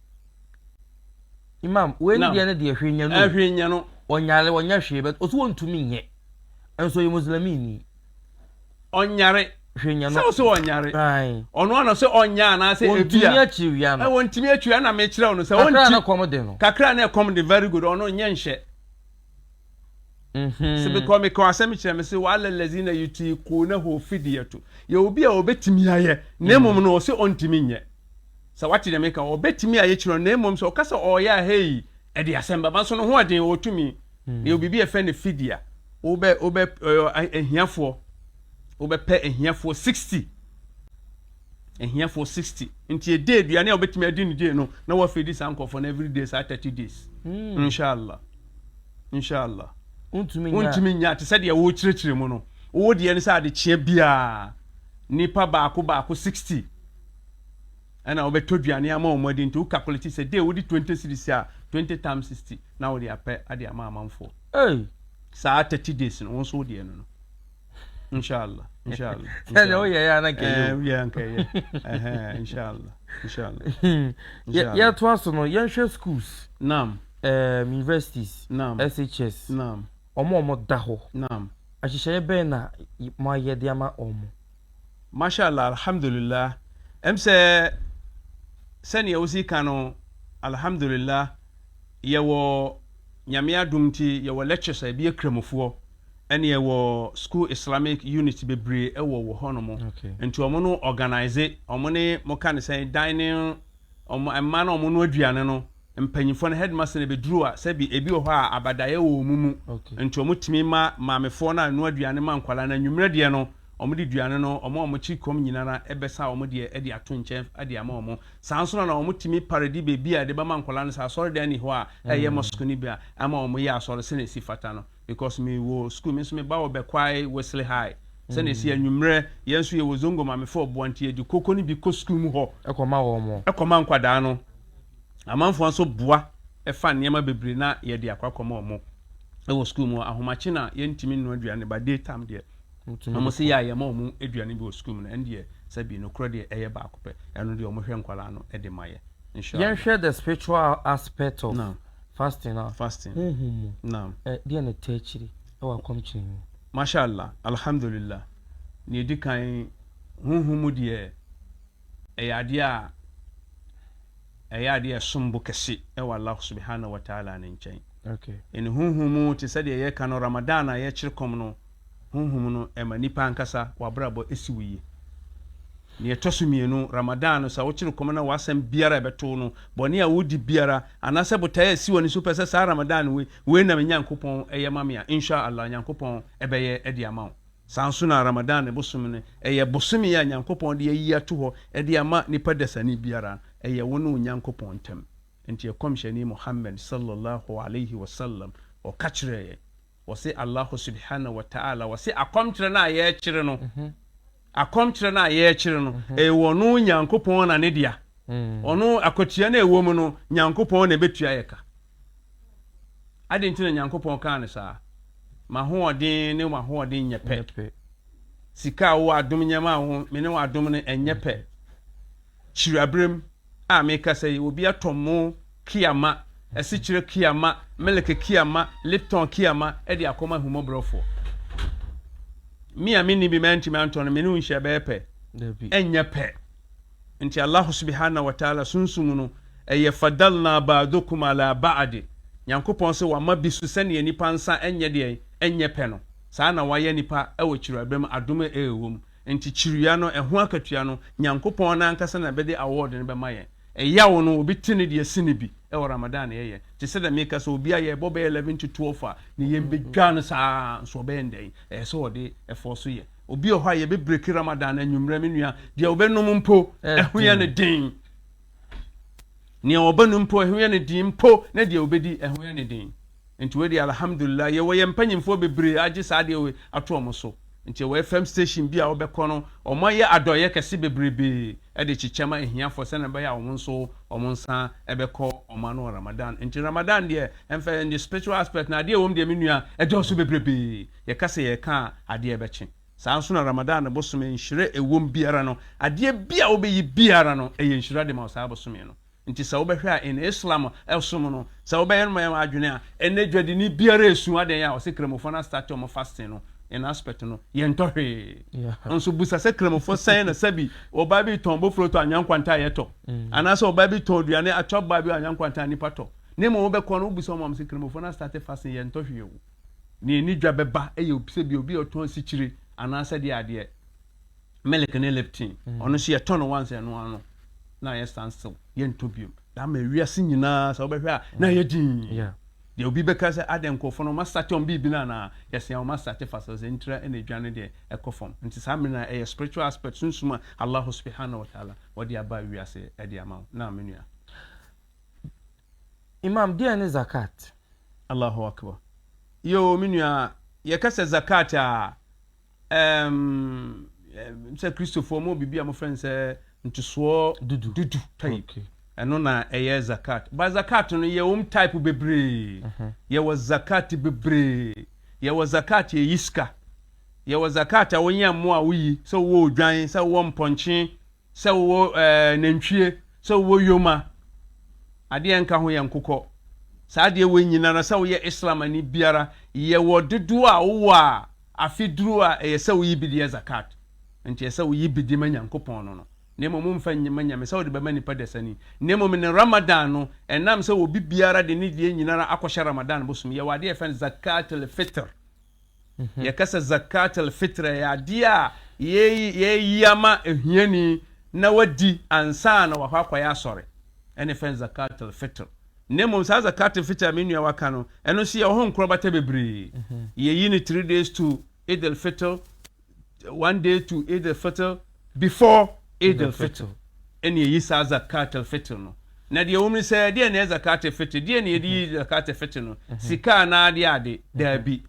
Imam, wei ne deɛ ne deɛ hwee nyɛ no. Ɛhwee eh, nyɛ no. Ɔnyare ɔnyɛ hwee bɛt ɔso ɔntumi nyɛ. Nso yɛ Muslimi ni. Ɔnyare. Hwee nyɛ no. Sɛ ɔso ɔnyare. Ɔno ano sɛ ɔnyɛ anaasɛ ebia. Ɔntumi akyiri wia no. Ɔntumi akyiri ɛna mekyerɛ ɔno sɛ ɔnti. Kakra na ɛkɔm de no. Kakra na ɛkɔm de very good ɔno nyɛ nhyɛ. Se me kɔ me kɔ asɛm kyerɛ me se wala lazina yutikunahu fidiyatu yɛ obi a ɔbɛtumi ayɛ na mmom no ɔse ɔntumi nyɛ sɛ wate deɛ meka ɔbɛtumi ayɛ kyerɛ na mmom sɛ ɔka sɛ ɔyɛ a hei ɛde asɛm bɛba nso no ho ɔden ɔtumi na yɛ biribi ɛfɛ ne fidia wobɛ wobɛ ahiafoɔ wobɛpɛ ahiafoɔ 60 ahiafoɔ 60 nti yɛde aduane a wɔbɛtumi adi no gyee no na wɔafeedi saa nkurɔfoɔ no every day saa 30 days hmm. inshallah inshallah wontumi nya te sɛ deɛ wokyerɛkyerɛ mu no wowɔ deɛ no sɛ adekyeɛ biaa nnipa baako baako 60 ɛna wobɛtɔ duane ama wɔn adi nti wo calculate sɛ de wode 20 series a 20 times 60 na wode apɛ ade ama amanfoɔ saa 30 days no wo nso wodeɛ no no inshallah inshallah sɛdeɛ woyɛɛ a na nkɛyɛ nkɛyɛ inshallah inshallah yɛtoa so no yɛnhwɛ schools nam um, universities nam shs nam ɔmo ɔmo da hɔ nam ahyehyɛeɛ bɛn na moayɛ de ama ɔmo mashallah alhamdulillah ɛm sɛ sɛnea wosi ka no alhamdulillah yɛwɔ nyame adom nti yɛwɔ lectures a ebi yɛ kramofoɔ Ɛne ɛwɔ school Islamic unit bebree ɛwɔ wɔ hɔ nom nti ɔmo no organize ɔmo ne mo ka ne sɛn dining ɔmo ɛma na ɔmo no aduane no mpanyinfoɔ no headmaster na bɛduru a sɛbi ebi wɔ hɔ a abadaeɛ wɔ ɔmo mu nti ɔmo tumi ma maamefoɔ no a noa aduane ma nkwadaa no anwummerɛ deɛ no ɔmo de duane no ɔmo a ɔmo kyi kɔm nyinara ɛbɛsa ɔmo deɛ ɛde ato nkyɛn ɛde ama ɔmo saa nso na na ɔmo tumi paredi beebi a ɛde bɛma nkwadaa no sɛ asɔre dan ni hɔ a ɛyɛ mosque no bi a ama ɔmo yɛ asɔre sɛnea esi fata no. Because me wɔ school me nso me ba wɔ Bɛkwae Wesley High sɛ na ɛsi anwummerɛ yɛn nso yɛ wɔ Zongo Mamefoɔ ɔboa nti yɛ de koko no bi kɔ school mu hɔ kɔma nkwadaa no. Amanfoɔ nso boa fa nneɛma bebree na yɛ de akɔ akɔma wɔn wɔ school mu hɔ. Ahomakye na yɛn ntumi nnɔ aduane but day time deɛ wɔn se yɛ a yɛ ma wɔn aduane bi wɔ school mu no ɛn deɛ sɛ bi nokorɛ deɛ ɛyɛ baako pɛ ɛno deɛ wɔn hwɛ nkwadaa no de ma yɛ. Yɛn hwɛ the spiritual aspect of. Fasting a Fasting. honhom mu Naam. ɛ, deɛ na ɛtaa akyire wɔ akɔmkyene mu? Masha Allah, Alhamdulillah. Nea ɛdi kan, honhom mu deɛ, ɛyɛ adeɛ a ɛyɛ adeɛ a ɛsom bo kɛse wɔ Allah Subhanahu wa Ta'ala ne nkyɛn. Okay. Ɛne honhom mu te sɛdeɛ yɛka no Ramadan a yɛkyere kɔm no, Honhom no ma nnipa ankasa w'abrabɔ si wo yie. Nea ɛtɔ so mmienu, Ramadan no, sɛ wokyere kɔm na w'asɛm biara a ɛbɛto wo no, bɔne a wodi biara, anaasɛ botae a ɛsi w'ani so pɛ sɛ saa Ramadan wei, wei na me Nyankopɔn yɛ ma me a, In sha Allah, Nyankopɔn bɛyɛ de ama wo. Saa nso na Ramadan bosome no, ɛyɛ bosome a Nyankopɔn de ayi ato hɔ de ama nnipa dasani biara, ɛyɛ wo ne wo Nyankopɔn ntam. Enti Ɛkɔmhyɛni Muhammad, Salla Allahu Alaihi Wasallam, ɔka kyerɛɛ yɛn. Wɔse Allahu subhaanahu wa ta'aala wɔse akɔmkyerɛ no a yɛrekyere no, akɔmkyerɛ no a yɛrekyere no, ɛyɛ ɔno Nyankopɔn na ne dea. Ɔno, akwatua no a ɛwɔ mu no, Nyankopɔn na ɛbɛtua yɛ ka. Adɛn nti na Nyankopɔn kaa no saa? M'ahoɔden ne w'ahoɔden nyɛ pɛ. Sika a wowɔ adom nneɛma a wo, me ne w'adom no ɛnyɛ pɛ. Kyiri aberem, a merekasa yi, obi atɔ mo Kiama, asikyire Kiama, milk Kiama, Lipton Kiama de akɔma ahummɔborɔfoɔ. Me a menni bi mantumi antɔ no, me ne wo nhyia bɛyɛ pɛ? Dabi. Ɛnyɛ pɛ. Nti Allah subhanahu wa ta'ala sunsum no, ɛyɛ fadalna ba'dukum ala ba'di. Nyankopɔn se wama bi so sɛdeɛ nipa nsa nyɛ deɛn? Nyɛ pɛ no. Saa na wayɛ nipa wɔ kyiriwabɛ mu, adom a ɛwɔ mu. Nkyekyerua no, ɛho akatua no, Nyankopɔn no ankasa na bɛde awɔɔd no bɛma yɛn. Ɛyaw no, obi te ne deɛ sene bi wɔ Ramadan na yɛyɛ. Te sɛdeɛ meka sɛ, obi a yɛbɔ bɛyɛ 11 to 12 a, ne yam bɛdwa no saa ara nso ɔbɛyɛ no dɛn? Ɛyɛ sɛ ɔde ɛfɔɔ so yɛ. Obi wɔ hɔ a, yɛbɛbreki Ramadan no anwummerɛ, me nua, deɛ ɔbɛnom mpo, ɛho yɛ no den. Nea ɔbɛnom mpo, ɛho yɛ no den mpo, na deɛ ɔbɛdi, ɛho yɛ no den. Nti wei deɛ alhamdulillah yɛwɔ yɛn mpanyinfoɔ bebree agye saa adeɛ wei ato wɔn so. Nti ɛwɔ FM station bi a wobɛkɔ no wɔn ayɛ adɔeɛ kɛse bebrebee de kyekyɛ ma ahiafoɔ sɛdeɛ ɛbɛyɛ a wɔn nso wɔn nsa bɛkɔ wɔn ano wɔ Ramadan. Nti Ramadan deɛ ɛmfa in the spiritual aspect no adeɛ ɛwɔ mu deɛ me nua ɛdɔɔso bebrebee. Yɛka sɛ yɛreka a adeɛ ɛbɛkye. Saa nso na Ramadan bosome nhyira ɛwɔ mu biara no adeɛ bi a wobɛyi biara no ɛyɛ nhyira de ma wo saa bosome no. Nti sɛ wobɛhwɛ a in Islam som no sɛ wobɛyɛ no ma yɛn adwene a ɛnnɛ dwadini biara ɛsu adɛn a ɔsɛ kramofɔ no astate ɔmo fasting no in aspect no yɛntɔ hwee nso busa sɛ kramofɔ sɛn na sɛbi ɔbaa bi tɔn bofuro tɔ anwea nkwanta a yɛtɔ anaasɛ ɔbaa bi tɔn aduane atwa baa bi anwea nkwanta a nipa tɔ ne mmom wobɛkɔ no wobusa ɔmo ɔmo sɛ kramofɔ no astate fasting yɛntɔ hwee o ne ani dwa bɛba ɛyɛ sɛ bi obi ɔtɔn sikyire anaasɛ deɛ adeɛ Milk ne Lipton, ɔno nso yɛtɔ no once ɛno ano na yɛ stand still yɛntɔ biom na ama wiase nyinaa sɛ wobɛhwɛ a na yɛ din deɛ obi bɛka sɛ adɛ nkurɔfoɔ no masate ɔm biribi no anaa yɛsea wɔn asate fa sɛ sɛ ntira ɛna adwa no deɛ ɛkɔ fam nti saa mmerɛ no ɛyɛ spiritual aspect sunsum a Allah subhanahu wa ta'ala wɔde aba wiase ɛde ama wo na menua Imam deɛ ne zakat Allahu akbar yo menua yɛkɛ sɛ zakat a Ɛɛm, ɛɛm, sɛ Kristofoɔ wɔwɔ biribi a wɔfrɛ no sɛ ntosoɔ dudu, dudu tithe. Okay. Ɛno na ɛyɛ zakat. Ba zakat no yɛ wɔn type bebree. Mhm. Yɛwɔ zakat bebree. Yɛwɔ zakat a ɛyi sika. Yɛwɔ zakat a wonyɛ mmoa a woyi sɛ wowɔ odwan, sɛ wowɔ mpɔnkye, sɛ wowɔ ɛɛ eh, nantwie, sɛ wowɔ yoma. Adeɛ nka ho yɛ nkokɔ. Saa adeɛ wɔ nyinara sɛ woyɛ Islamani biara yɛwɔ dodoɔ a wowɔ a Afe duru a, ɛyɛ sɛ woyi bi de yɛ Zakat. Enti ɛyɛ sɛ woyi bi de ma Nyankopɔn no no, na mmom womfa nyi ma nyame sɛ wode bɛma nnipa dasani. Na mmom ne Ramadan no, ɛnam sɛ obi biara de ne deɛ nyinara akɔhyɛ Ramadan bosome, yɛwɔ adeɛ a yɛfrɛ no Zakat-al-Fitr. Yɛka sɛ Zakat-al-Fitr a, ɛyɛ adeɛ a yɛyi ama ahiani na wadi ansa na wakɔ akɔyɛ asɔre, ɛne yɛfrɛ no Zakat-al-Fitr. na mmom saa zakat fitr a me nua waka no, ɛno nso yɛwɔ ho nkorabata bebree. Mhm. Yɛyi no three days to Eid al-Fitr, one day to Eid al-Fitr, before Eid al-Fitr. Ɛne yɛyi saa zakat al-Fitr no. Na deɛ wɔm ne sɛ, deɛ na yɛ zakat al-Fitr, deɛ na yɛde yi mhm. zakat al-Fitr no, mhm. sika anaa ade ade, daabi.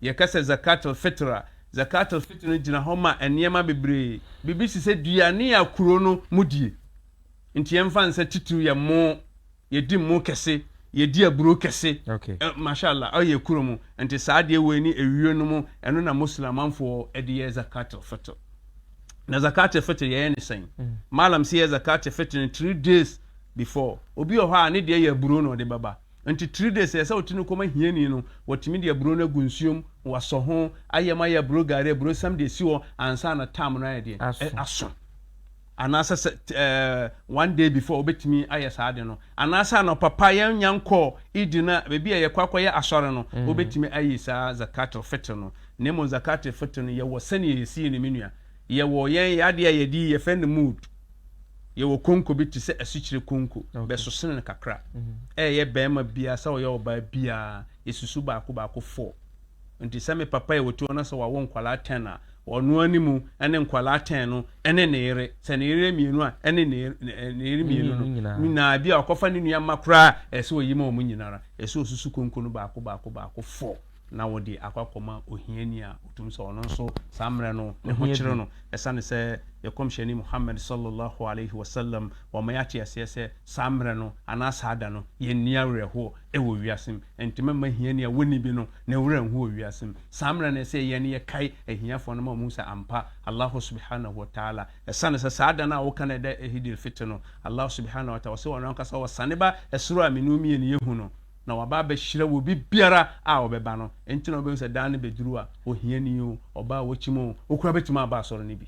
Yɛka sɛ zakat al-Fitr a, zakat al-Fitr no gyina hɔ ma nneɛma bebree. Biribi te sɛ duane a kuro no mu die. Nti yɛmfa nsɛ titiriw yɛ mmo, yɛdi mmo kɛse, yɛdi aburow kɛse. Okay. Eh, Masha Allah, ɔyɛ kuro mu. Nti saa adeɛ wei ne ewio no mu, ɛno na Muslimanfoɔ de yɛ zakat al-fitr. Na zakat al-fitr yɛyɛ ne sɛn? Mm. Malam si yɛ zakat al-fitr no three days before. Obi wɔ hɔ a ne deɛ yɛ aburow na ɔde bɛba. Nti three days ɛsɛ sɛ ɔte no kɔma hiani no, wɔtumi de aburow no agu nsuom, wɔasɔ ho, ayɛ ma ayɛ aburow gari, aburow sam de asi hɔ ansa na tam no ayɛ deɛ? Aso. Aso. Anaasɛ sɛ eh, one day before wobɛtumi ayɛ saa ade no. Anaasɛ anɔpa pa yɛnnya nkɔɔ Eid no a, baabi a yɛkɔ akɔyɛ asɔre no, mm. wobɛtumi ayi saa zakat al-fitr no. Na mmom zakat al-fitr no, yɛwɔ sɛnea yɛsie no, me nua. Yɛwɔ yɛn yɛadeɛ a yɛde yi, yɛfrɛ no mood. Yɛwɔ konko bi te sɛ asikyire konko, okay. bɛsosene no kakra. Mm. Ɛyɛ bɛrima biara sɛ ɔyɛ ɔbaa biara, yɛsusu baako baako four. Enti sɛ me papa yɛ otuo na sɛ wawo nkwadaa ten a, ɔno ara ne mu ne nkwadaa ten no ne ne yere, sɛ ne yere yɛ mmienu a, ɛne ne ne yere mmienu no nyinaa. Ebia ɔkɔfa ne nua mma koraa a, ɛsɛ sɛ ɔyi ma wɔn nyinaa ara. Ɛsɛ sɛ ɔsusu konko no baako baako baako fɔ na ɔde akɔ akɔma ohiani a ɔtumi sɛ ɔno nso saa mmerɛ no ne ho kyere no. Ɛsiane sɛ yɛn Kɔmhyɛni Muhammad sallallahu alaihi wasallam wama yɛate aseɛ sɛ saa mmerɛ no anaa saa da no yɛnni awerɛhoɔ. wɔ wiase mu. Ɛntema mma hiani a wonni bi no ne werɛ nho wɔ wiase mu. Saa mmerɛ no ɛsɛ yɛn yɛkae ahiafoɔ no ma wɔhu sɛ ampa Allahu subhanahu wa ta'ala ɛsane sɛ saa da no a woka no ɛda Eid al-Fitr no Allahu subhanahu wa ta'ala ɔse ɔno ankasa ɔsane ba ɛsoro a me ne wo mmienu yɛhu no na waba abɛhyira wɔ biribiara a ɔbɛba no nti na wobɛhu sɛ da no bɛduru a ohiani o, ɔbaa a wakyim o, okura bɛtumi aba asɔre no bi.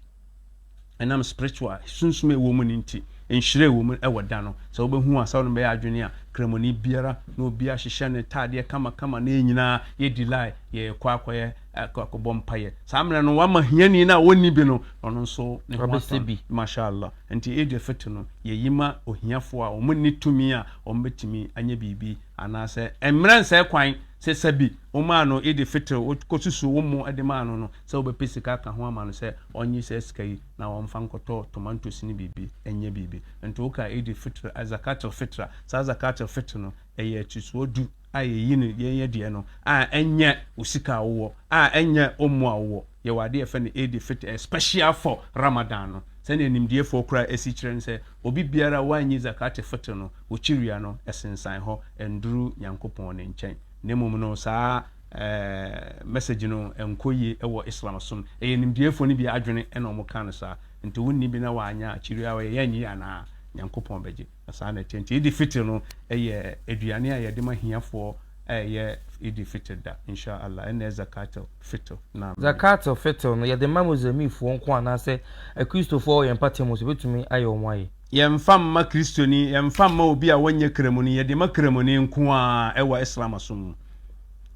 ɛnam spiritual sunsum a ɛwɔ mu no nti nhyira ɛwɔ mu ɛwɔ da no sɛ wobɛhu a sɛ wode bɛyɛ adwene a kramoni biara na obi ahyehyɛ ne taadeɛ kamakama na yɛn nyinaa yɛdi lae yɛkɔ akɔyɛ akɔbɔ mpayɛ saa mmerɛ no wama hiani no a ɔnni bi no ɔno nso ne ho atɔ bi mashallah nti Eid al-Fitr no yɛyi ma ohiafoɔ a wɔn nni tumi a wɔn bɛtumi anyɛ biribi anaasɛ mmerɛ nsɛ kwan sɛ sɛbi womaa no Eid al-Fitr wokɔsusu wo mo de maa no no sɛ wobɛpɛ sika aka ho ama no sɛ ɔnye saa sika yi na ɔmfa nkɔtɔ tomantos ne biribi nyɛ biribi. Nto wo ka Eid al-Fitr, Zakat al-Fitr a, saa Zakat al-Fitr no, ɛyɛ atisoɔ du a yɛyi no, yɛn yɛ deɛ no, a ɛnyɛ wo sika a wowɔ, a ɛnyɛ wo mmoa a wowɔ. Yɛwɔ adeɛ a yɛfrɛ no Eid al-Fitr, ɛyɛ special for Ramadan no. Sɛdeɛ animdiefoɔ koraa si kyerɛ ne sɛ, obi biara a wannyi Zakat al-Fitr no, okyiria no, ɛsensan hɔ, ɛnduru Nyankopɔn ne nkyɛn. Na mmom no, saa Ɛɛ message no nkɔ yie wɔ Islam som. Ɛyɛ nimdeɛfoɔ no bi adwene na wɔn kaa no saa. Nti wonni bi na w'anya akyiri a ɔyɛ yɛ anyi yɛ anaa? Nyankopɔn bɛgye. Na saa na ɛteɛ. Nti Eid Fitr no yɛ aduane a yɛde ma hiafoɔ a ɛyɛ Eid Fitr da. Insha Allah ɛnnɛ Zakat al Fitr. Naam. Zakat al Fitr no yɛde ma Muslimifɔɔ nko anaasɛ akristofoɔ wɔ yɛn mpate mu nso bɛtumi ayɛ wɔn ayɛ? Yɛmfa mma Kristoni, yɛmfa mma obi a ɔnyɛ Kramoni, yɛde ma Kramoni nko ara wɔ Islam som mu.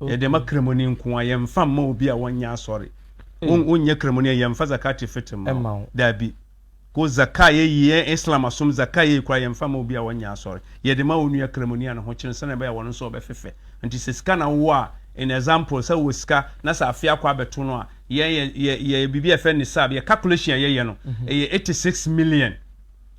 Yɛde ma Kramoni nko ara, yɛmfa mma obi a ɔnyɛ asɔre. Wonyɛ Kramoni a, yɛmfa Zakat Fitr mma wo. Dabi. Ko Zaka a yɛyi, yɛn Islam som Zaka a yɛyi koraa, yɛmfa mma obi a ɔnyɛ asɔre. Yɛde ma wo nua Kramoni a ne ho kyene sɛnea ɛbɛyɛ a ɔno nso ɔbɛfefɛ. Nti sɛ sika na wowɔ a, in example, sɛ wowɔ sika na sɛ afe akɔ abɛto no a, Yɛn yɛ yɛ yɛyɛ biribi a yɛfrɛ no sab. Yɛ calculation a yɛyɛ no, ɛyɛ eighty six million.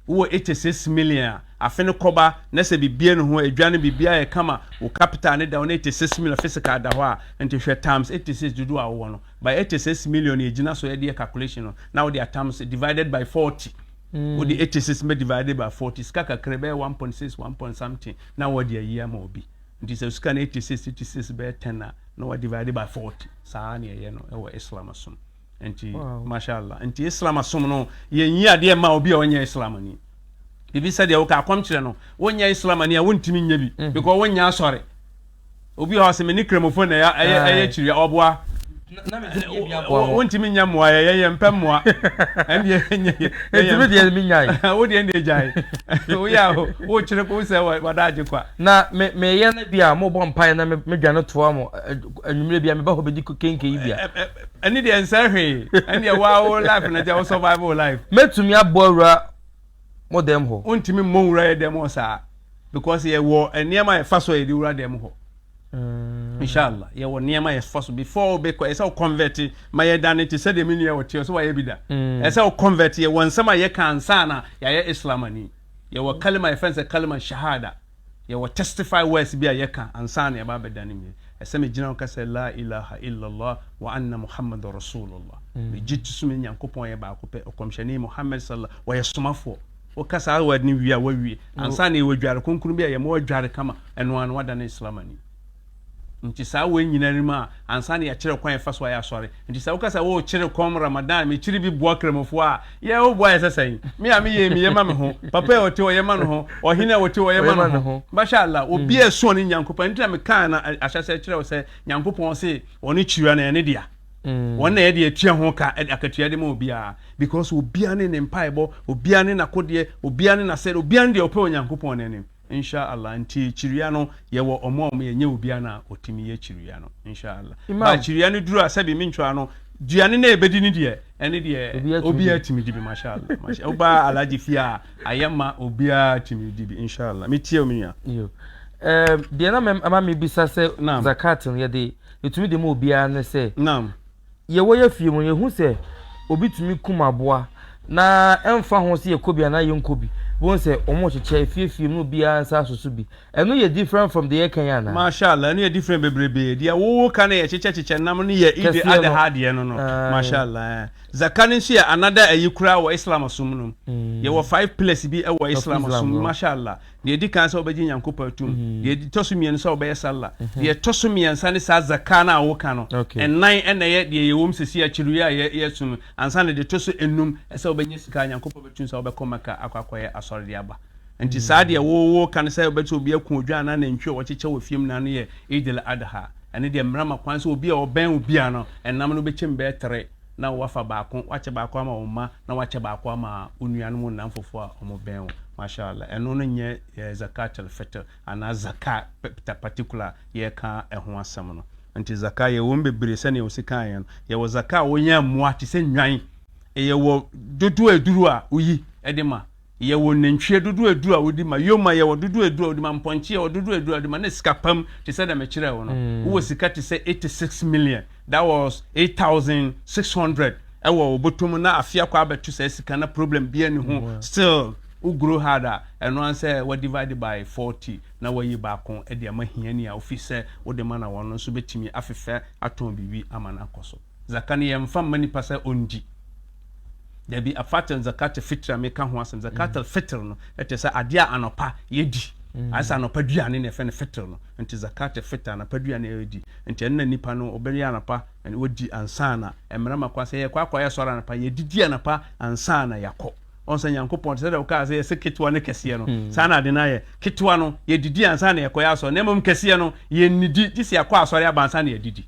Wowɔ eighty six million a, afe no kɔba na sɛ biribiara nni ho, adwa no biribiara yɛ kama, wo capital no da hɔ na eighty six million physical da hɔ a, nti hwɛ times eighty six dodoɔ a wowɔ no by eighty six million na ɛgyina so ɛde yɛ calculation no na wode atams divided by forty. Wode eighty six bɛ divided by forty, sika kakra ɛbɛyɛ one point six, one point something na wɔde ayi ama obi. Nti sɛ sika no eighty six eighty six bɛyɛ ten a na wa divide by forty saa na ɛyɛ no ɛwɔ Islam som nti mashallah nti Islam som no yɛn yi adeɛ ma obi a ɔnyɛ Islam ni bibi sɛdeɛ woka akɔm kyerɛ no wonyɛ Islam ni a wontumi nyɛ bi mhm. because wonyɛ asɔre obi hɔ sɛ me ne kramofo na ɛyɛ ɛyɛ kyiri ɔboa Na me deɛ bi aboa mo. Wontumi nya mmoa yɛ yɛn yɛmpɛ mmoa ɛndeɛ ɛnyɛ yɛ. Enti me deɛ me nyae. Wo deɛ ɛndeɛ gyae. Woyɛ a wokyere ko sɛ wadaagye kwa. Na me meyɛ na bi a mo bɔ mpaeɛ na me me dwane toa mo anwummerɛ bi a me ba hɔ bɛdi kenkei bi a. Ɛne deɛ nsɛ hwee ɛndeɛ wo a wo life na gya wo survive wo life. Mɛtumi aboa wura. mo dɛm hɔ. Ontumi mmɔ nwura yɛ dɛm hɔ saa because yɛ wɔ nneɛma yɛ fa so yɛ de wura dɛm hɔ mm. inshallah yɛ wɔ nneɛma yɛ fa so before ɔbɛ kɔ ɛsɛ o convert ma yɛ da ne te sɛ dɛm nua ɔte ɔsɛ wayɛ bi da mm. ɛsɛ o convert yɛ wɔ nsɛm a yɛ ka nsa na yɛayɛ islam ani yɛ wɔ kalima yɛ fɛn sɛ kalima shahada Yɛwɔ testify words bi a yɛka ansa na yɛba abɛda no wie. Ɛsɛ megyina hɔ ka sɛ, Laa ilaha illallah wa anna Muhammadan Rasulullah. Megye to so me Nyankopɔn yɛ baako pɛ, Ɔkɔmhyɛni Muhammad sallallahu ɔyɛ somafoɔ. Woka saa word no wie a, woawie. Ansa na yɛwɔ dware kronkron bi a yɛma ɔdware kama, ɛno ara no woadane Islamani. Nti saa wei nyina rim a ansa na yɛkyerɛ kwan yɛfa so ayɛ asɔre. Nti sɛ woka sɛ oh kyere kɔm Ramadan mekyere bi boa Kramofo a yɛ wo boa yɛ sɛ sɛn? Me a meyɛ yi meyɛ ma me ho, papa a ɔte ɔyɛ ma no ho, ɔhene a ɔte ɔyɛ ma no ho. Masha Allah obi a ɛso ɔne Nyankopɔn nti na mekaa no ahyɛsɛ kyerɛ wo sɛ Nyankopɔn se ɔne kyira na ɛne dea. Ɔno na yɛde atua ho ka ɛde akatua de ma obiara because obiara ne ne mpaebɔ, obiara ne nakodeɛ, obiara ne nasɛde, obiara ne deɛ ɔpɛ wɔ Nyankopɔn n'anim. Insha Allah nti kyiria no yɛwɔ ɔmo a ɔmo yɛ nyɛ obia na ɔtimi yɛ kyiria no Insha Allah ba kyiria no duru a sɛbi me ntwaa no duane na ɛbɛdi no deɛ ɛne deɛ obia timi dibi Masha Allah Masha Allah wobaa Alhaji fie a ayɛ ma obia timi dibi Insha Allah me tie wo me nua Yo eh deɛ na mɛ ama me bisa sɛ Naam Zakat no yɛde yɛtumi de ma obia ne sɛ Naam. yɛ wɔ yɛ fie mu yɛhu sɛ obi tumi kum aboa na ɛmfa ho sɛ yɛkɔ bi anaa yɛnkɔ bi bohu sɛ wɔn rekyekyɛ efiefie mu obiara nsa asoso bi ɛno yɛ different from deɛ yɛka yi anaa. Mashallah ɛno yɛ different bebrebee deɛ wowo ka no yɛ kyekyɛ kyekyɛ nam no yɛ Eid Adha adeɛ no no mashallah ɛɛ Zaka no nso yɛ another ayi koraa wɔ Islam som no mu yɛwɔ five pillars bi wɔ Islam som mu mashallah Deɛ ɛdi kan sɛ wobɛgye Nyankopɔn atum, deɛ ɛtɔ so mmienu sɛ wobɛyɛ salla, deɛ ɛtɔ so mmiɛnsa ne saa zaka no a woka no, ɛnan ɛna ɛyɛ deɛ ɛyɛ wɔm sɛsi akyiri yi a yɛasu no, ansa na deɛ ɛtɔ so enum ɛsɛ wobɛnya sika a Nyankopɔn bɛtum sɛ wobɛkɔ Mecca akɔ akɔyɛ asɔre de aba. Nti saa deɛ wo wo ka no sɛ wobɛte obi ako odwan anaa nantwi a wɔkyekyɛ wɔ fie mu na ano yɛ Eid al-Adha, ɛno deɛ mmara ma kwan sɛ obi a ɔbɛn obi a no ɛnam no bɛkyem bɛyɛ tere, na wɔafa baako, wɔakyɛ baako ama wo mma, na wɔakyɛ baako ama wo nuanom nnamfofo a wɔbɛn wo. Masha'Allah. Ɛno no nyɛ eh, Zakat al-Fitr, anaa Zaka pɛpta particular a yɛreka ɛho asɛm no. Nti Zaka, yɛwɔ mu bebree sɛnea Ose kaeɛ no. Yɛwɔ Zaka a wonya mmoa te sɛ nnwan, yɛwɔ dodoɔ a ɛduru a woyi de ma, Yɛwɔ nantwie dodoɔ edu a wodi ma, yoma yɛwɔ dodoɔ edu a wodi ma, mpɔnkye yɛwɔ dodoɔ edu a wodi ma, ne sika pam te sɛ deɛ mekyerɛɛ wo no. Wowɔ sika te sɛ eighty six million, that was eight thousand six hundred, wɔ wo bɔtɔ mu na afe akɔ abɛto saa sika na problem biara nni ho still wo grow hard a, ɛno ara ne sɛ wɔadivide by forty na wɔayi baako de ama hiani a wofii sɛ wode ma na wɔn nso bɛtumi afefɛ atɔn biribi ama no akɔ so. Zaka no yɛmfa mma nipa sɛ ɔndi. Dabi, afater ne zakater fitr a meka ho asɛm, zakater fitr no te sɛ adeɛ a anɔpa yɛdi. Ayɛ sɛ anɔpa duane na yɛfrɛ no fitr no. Nti zakater fitr, anɔpa duane a yɛdi. Nti ɛno na nnipa no wɔbɛyɛ anɔpa na wɔdi ansa na mmarima kɔ. Sɛ yɛkɔ akɔyɛ asɔre anɔpa a, yɛdidi anɔpa ansa na yɛakɔ. Ɔhu sɛ Nyankopɔn, te sɛ deɛ wokaa sɛ yɛsɛ ketewa ne kɛseɛ no, saa na ade no ayɛ. Ketewa no, yɛdidi ansa na yɛkɔyɛ asɔre. Na mmom kɛseɛ no, yɛnnidi gye sɛ yɛakɔ asɔre aba ansa na yɛadidi.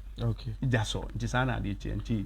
That's all. Nti saa na adeɛ teɛ. Nti.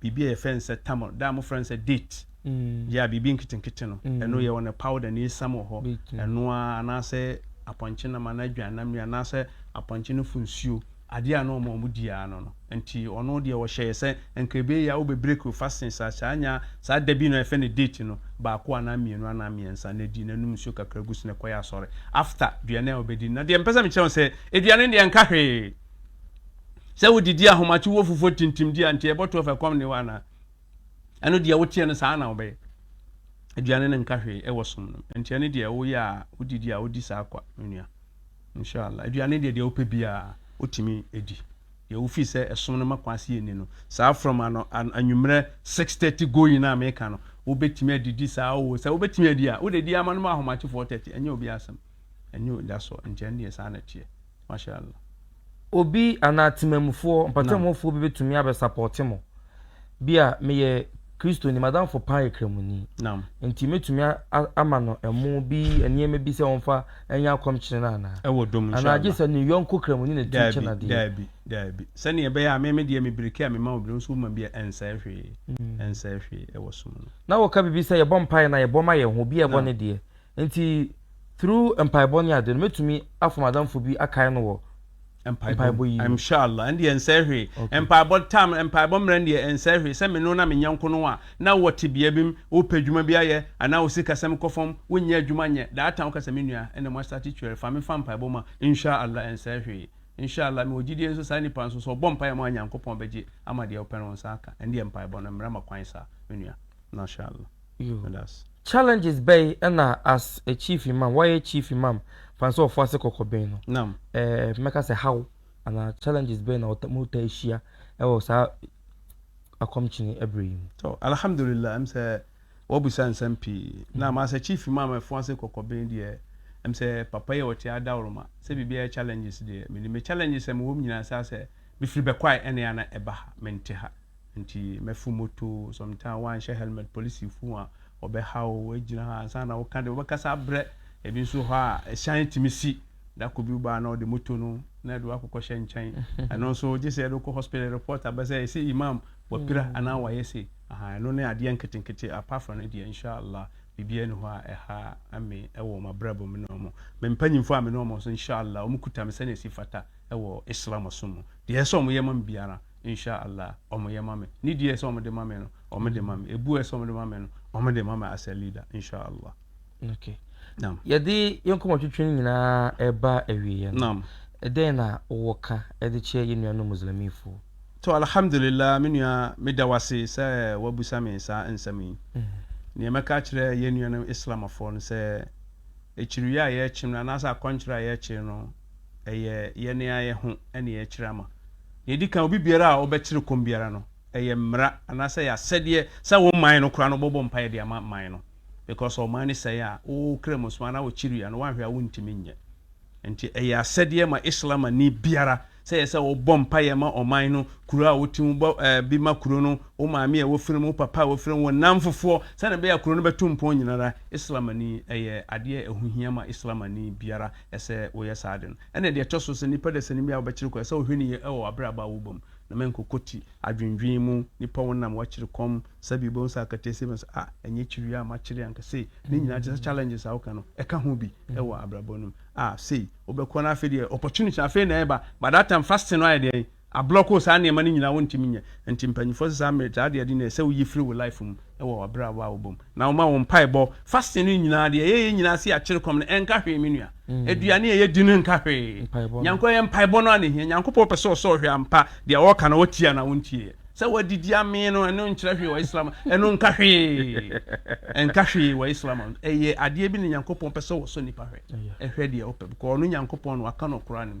biribi a yɛfrɛ no sɛ tamar, da a mofrɛ no sɛ date, gye a biribi nketenkete no, ɛno yɛwɔ no powder na esiam wɔ hɔ, ɛno ara, anaasɛ apɔnkye nam anaa adwannam nnuan, anaasɛ apɔnkye no fo nsuo, adeɛ a na wɔma wɔdi ara no no. Enti ɔno deɛ ɔhyɛeɛ sɛ, anka ɛbɛyɛ a wobɛbreak wo fastings ahyɛ anya saa da bi no a yɛfrɛ no date no baako anaa mmienu anaa mmiɛnsa, na di, na nom nsuo kakra gu so na kɔyɛ asɔre after aduane a wobɛdi no. Na deɛ mepɛ sɛ mekyerɛ wo sɛ, aduane no deɛ ɛnka hwee. Sɛ wodidi ahomakye wo fufuo tintimdi a, nti ɛbɔto afa kɔm ne hɔ anaa? Ɛno deɛ woteɛ no saa na wobɛyɛ. Aduane no nka hwee ɛwɔ som no. Nti ɛne deɛ woyɛ a wodidi a wodi saa kwa me nua. Inshallah. Aduane deɛ deɛ wopɛ bi a wotumi edi. Deɛ wofi sɛ ɛsom no ma kwan se yɛnni no. Saa from ano anwummerɛ 6:30 going a meka no, wobɛtumi adidi saa o. Sɛ wobɛtumi adi a, wode di ama no ma ahomakye 4:30. Ɛnyɛ obiara asɛm. Ɛnyɛ, that's all. Nti ɛne deɛ saa na ɛteɛ. Mashallah. Obi anaa temamufoɔ, mpɔtamufoɔ bi bɛtumi abɛsapɔte mo. Bi a meyɛ Kristoni, madamfo paa yɛ Kramoni. Naam. Nti mɛtumi ama no ɛmo bi, nneɛma bi sɛ wɔmfa ɛnyɛ akɔmkyene no anaa? Ɛwɔ dom inshallah. Anaa gye sɛ ne yɔnko Kramoni na ɛtumi kyɛ no adeɛ. Daabi, daabi. Sɛdeɛ ɛbɛyɛ a me me deɛ me biriki a mema wo bi no nso woma bi a ɛnsɛe hwee, ɛnsɛe hwee ɛwɔ som no. Na woka biribi sɛ yɛbɔ mpaeɛ na yɛbɔ ma yɛn ho, obi a ɛbɔ ne deɛ. Nti through mpaebɔ ne ade no mɛtumi afom adamfo bi akae no wɔ mpaebɔ yi mu. Mshallah ɛndeɛ ɛnsɛe hwee. Okay. Mpaebɔ time, mpaebɔ mmerɛ ndeɛ ɛnsɛe hwee. Sɛ me no na me nyɛnko no a, na wɔ tebea bi mu, wo pɛ dwuma bi ayɛ, anaa wo sikasɛm kɔ fam, wo nyɛ adwuma nyɛ, that time wo ka sɛ me nua, ɛnna mo astate twɛre, fa me fa mpaebɔ mu a, Mshallah ɛnsɛe hwee. Mshallah mewɔ gyidie nso saa nipa nso sɛ ɔbɔ mpaeɛ ma wo a Nyankopɔn bɛgye ama deɛ wo pɛ no wo nsa aka. Ɛndeɛ mpaebɔ no mmara ma kwan saa, me nua. Mshallah. Yudas. Challenges bɛy na as a chief imam wɔyɛ chief imam fan sɛ ɔfo ase kɔkɔbɛn no nam eh, mɛka sɛ how ana challenges bɛy na ɔta mu ta ahyia ɛwɔ saa akɔmkyene ɛbrɛ yi mu so alhamdulillah ɛm sɛ wɔbisa nsɛm pii mm. na ma sɛ chief imam ɛfo ase kɔkɔbɛn deɛ ɛm sɛ papa yi ɔte adawroma sɛ biribiara challenges deɛ menim me challenges sɛ mewɔ m nyinaa saa sɛ mefiri bɛkwae ɛne ana ɛba ha mente ha nti mɛfo moto sometime wanhyɛ helmet polisi fu a ɔbɛha o wagyina ha ansa na woka de wobɛkasa abrɛ ebi nso hɔ a ɛhyɛn tumi si dako bi baa na ɔde moto no na ɛde wakokɔ hyɛ nkyɛn ɛno nso gye sɛ ɛde kɔ hospital report abɛ sɛ ɛsɛ imam wapira mm. anaa wayɛ se aha ɛno ne adeɛ nketenkete apart from no deɛ inshallah biribiara ni hɔ a ɛha ame ɛwɔ wɔn abrabɔ mu ne wɔn me mpanyinfo a me ne wɔn nso inshallah wɔn kuta me sɛnea ɛsi fata ɛwɔ islam so mu deɛ ɛsɛ wɔn yɛ ma me biara Insha Allah ɔmo yɛ ma me. Ne deɛ ɛsɛ ɔmo de ma me no, ɔmo de ma me. Ebu ɛsɛ ɔmo de ma me no, ɔmo de ma me as a leader. Insha Allah. Okay. Naam. Yɛde yɛn nkɔmɔtwetwe no nyinaa ɛba awieɛ no. Naam. Ɛdɛn na wowɔ ka ɛde kyerɛ yɛn nuanom Muslimifoɔ? To Alhamdulillah me nua meda wo ase sɛ wabusa me saa nsɛm yi. Nea mɛka akyerɛ yɛn nuanom Islamafoɔ no sɛ, akyiriwie a yɛrekyem no anaasɛ akɔnkyere a yɛrekyere no, ɛyɛ yɛn ara yɛn ho na yɛrekyerɛ ama. Nea edi kan, obi biara a ɔbɛkyere kɔm biara no, ɛyɛ mmara anaasɛ ɛyɛ asɛdeɛ sɛ wo man no koraa no wobɛbɔ mpaeɛ de ama man no because ɔman no sɛe a, wo Kramosom anaa wo Chiria no woanhwɛ a wontumi nyɛ. Nti ɛyɛ asɛdeɛ ma Islamani biara sɛ ɛyɛ sɛ wobɔ mpaeɛ ma ɔman no, kuro a wote mu, bɔ ɛɛ bi ma kuro no, wo maame a wofiri mu, wo papa a wofiri mu, wo nnamfofoɔ, sɛdeɛ ɛbɛyɛ a kuro no bɛtu mpɔn nyinara. Islamani, ɛyɛ adeɛ a ɛho hia ma Islamani biara. ɛsɛ woyɛ saa ade no. Ɛnna deɛ ɛtɔ so sɛ nipa dasani bi a wobɛkyere kɔn, ɛsɛ wohwɛ no yie wɔ w'abrabɔ a wobɔ mu, na menkɔkɔ ti adwendwen mu. Nipa wonam woakyere kɔm, sɛbi wobɛhu sɛ akata si bɛs a, ɛnyɛ kyere wei a makyere anka sei, ne nyinaa te sɛ challenges a woka no, ɛka ho bi wɔ abrabɔ no mu a, sei wobɛkɔ no afei deɛ opportunity afei na ɛreba, but that time fasting no ayɛ deɛn? Ablɔk o saa nneɛma no nyinaa wontumi nyɛ nti mpanyinfoɔ sɛ saa mmerɛ saa deɛ ɛde no ɛsɛ woyi firi wo life mu wɔ wabrabɔ a wobɔ mu na woma wo mpaebɔ fasting no nyinaa deɛ ɛyɛ yɛ nyinaa se akyere kɔm no ɛnka hwee me nua aduane a yɛdi no nka hwee nyankopɔn ɛyɛ mpaebɔ no a na ɛhia nyankopɔn pɛ sɛ ɔsɔ hwɛ ampa deɛ ɔka na wɔtie anaa wontieɛ sɛ wadidi amee no ɛno nkyerɛ hwee wɔ Islam ɛno nka hwee ɛnka hwee wɔ Islam ɛyɛ adeɛ bi ne nyankopɔn pɛ sɛ wɔsɔ nipa hwɛ ɛhwɛ deɛ ɔpɛ bkɔ ɔno nyankopɔn no waka no Quran mu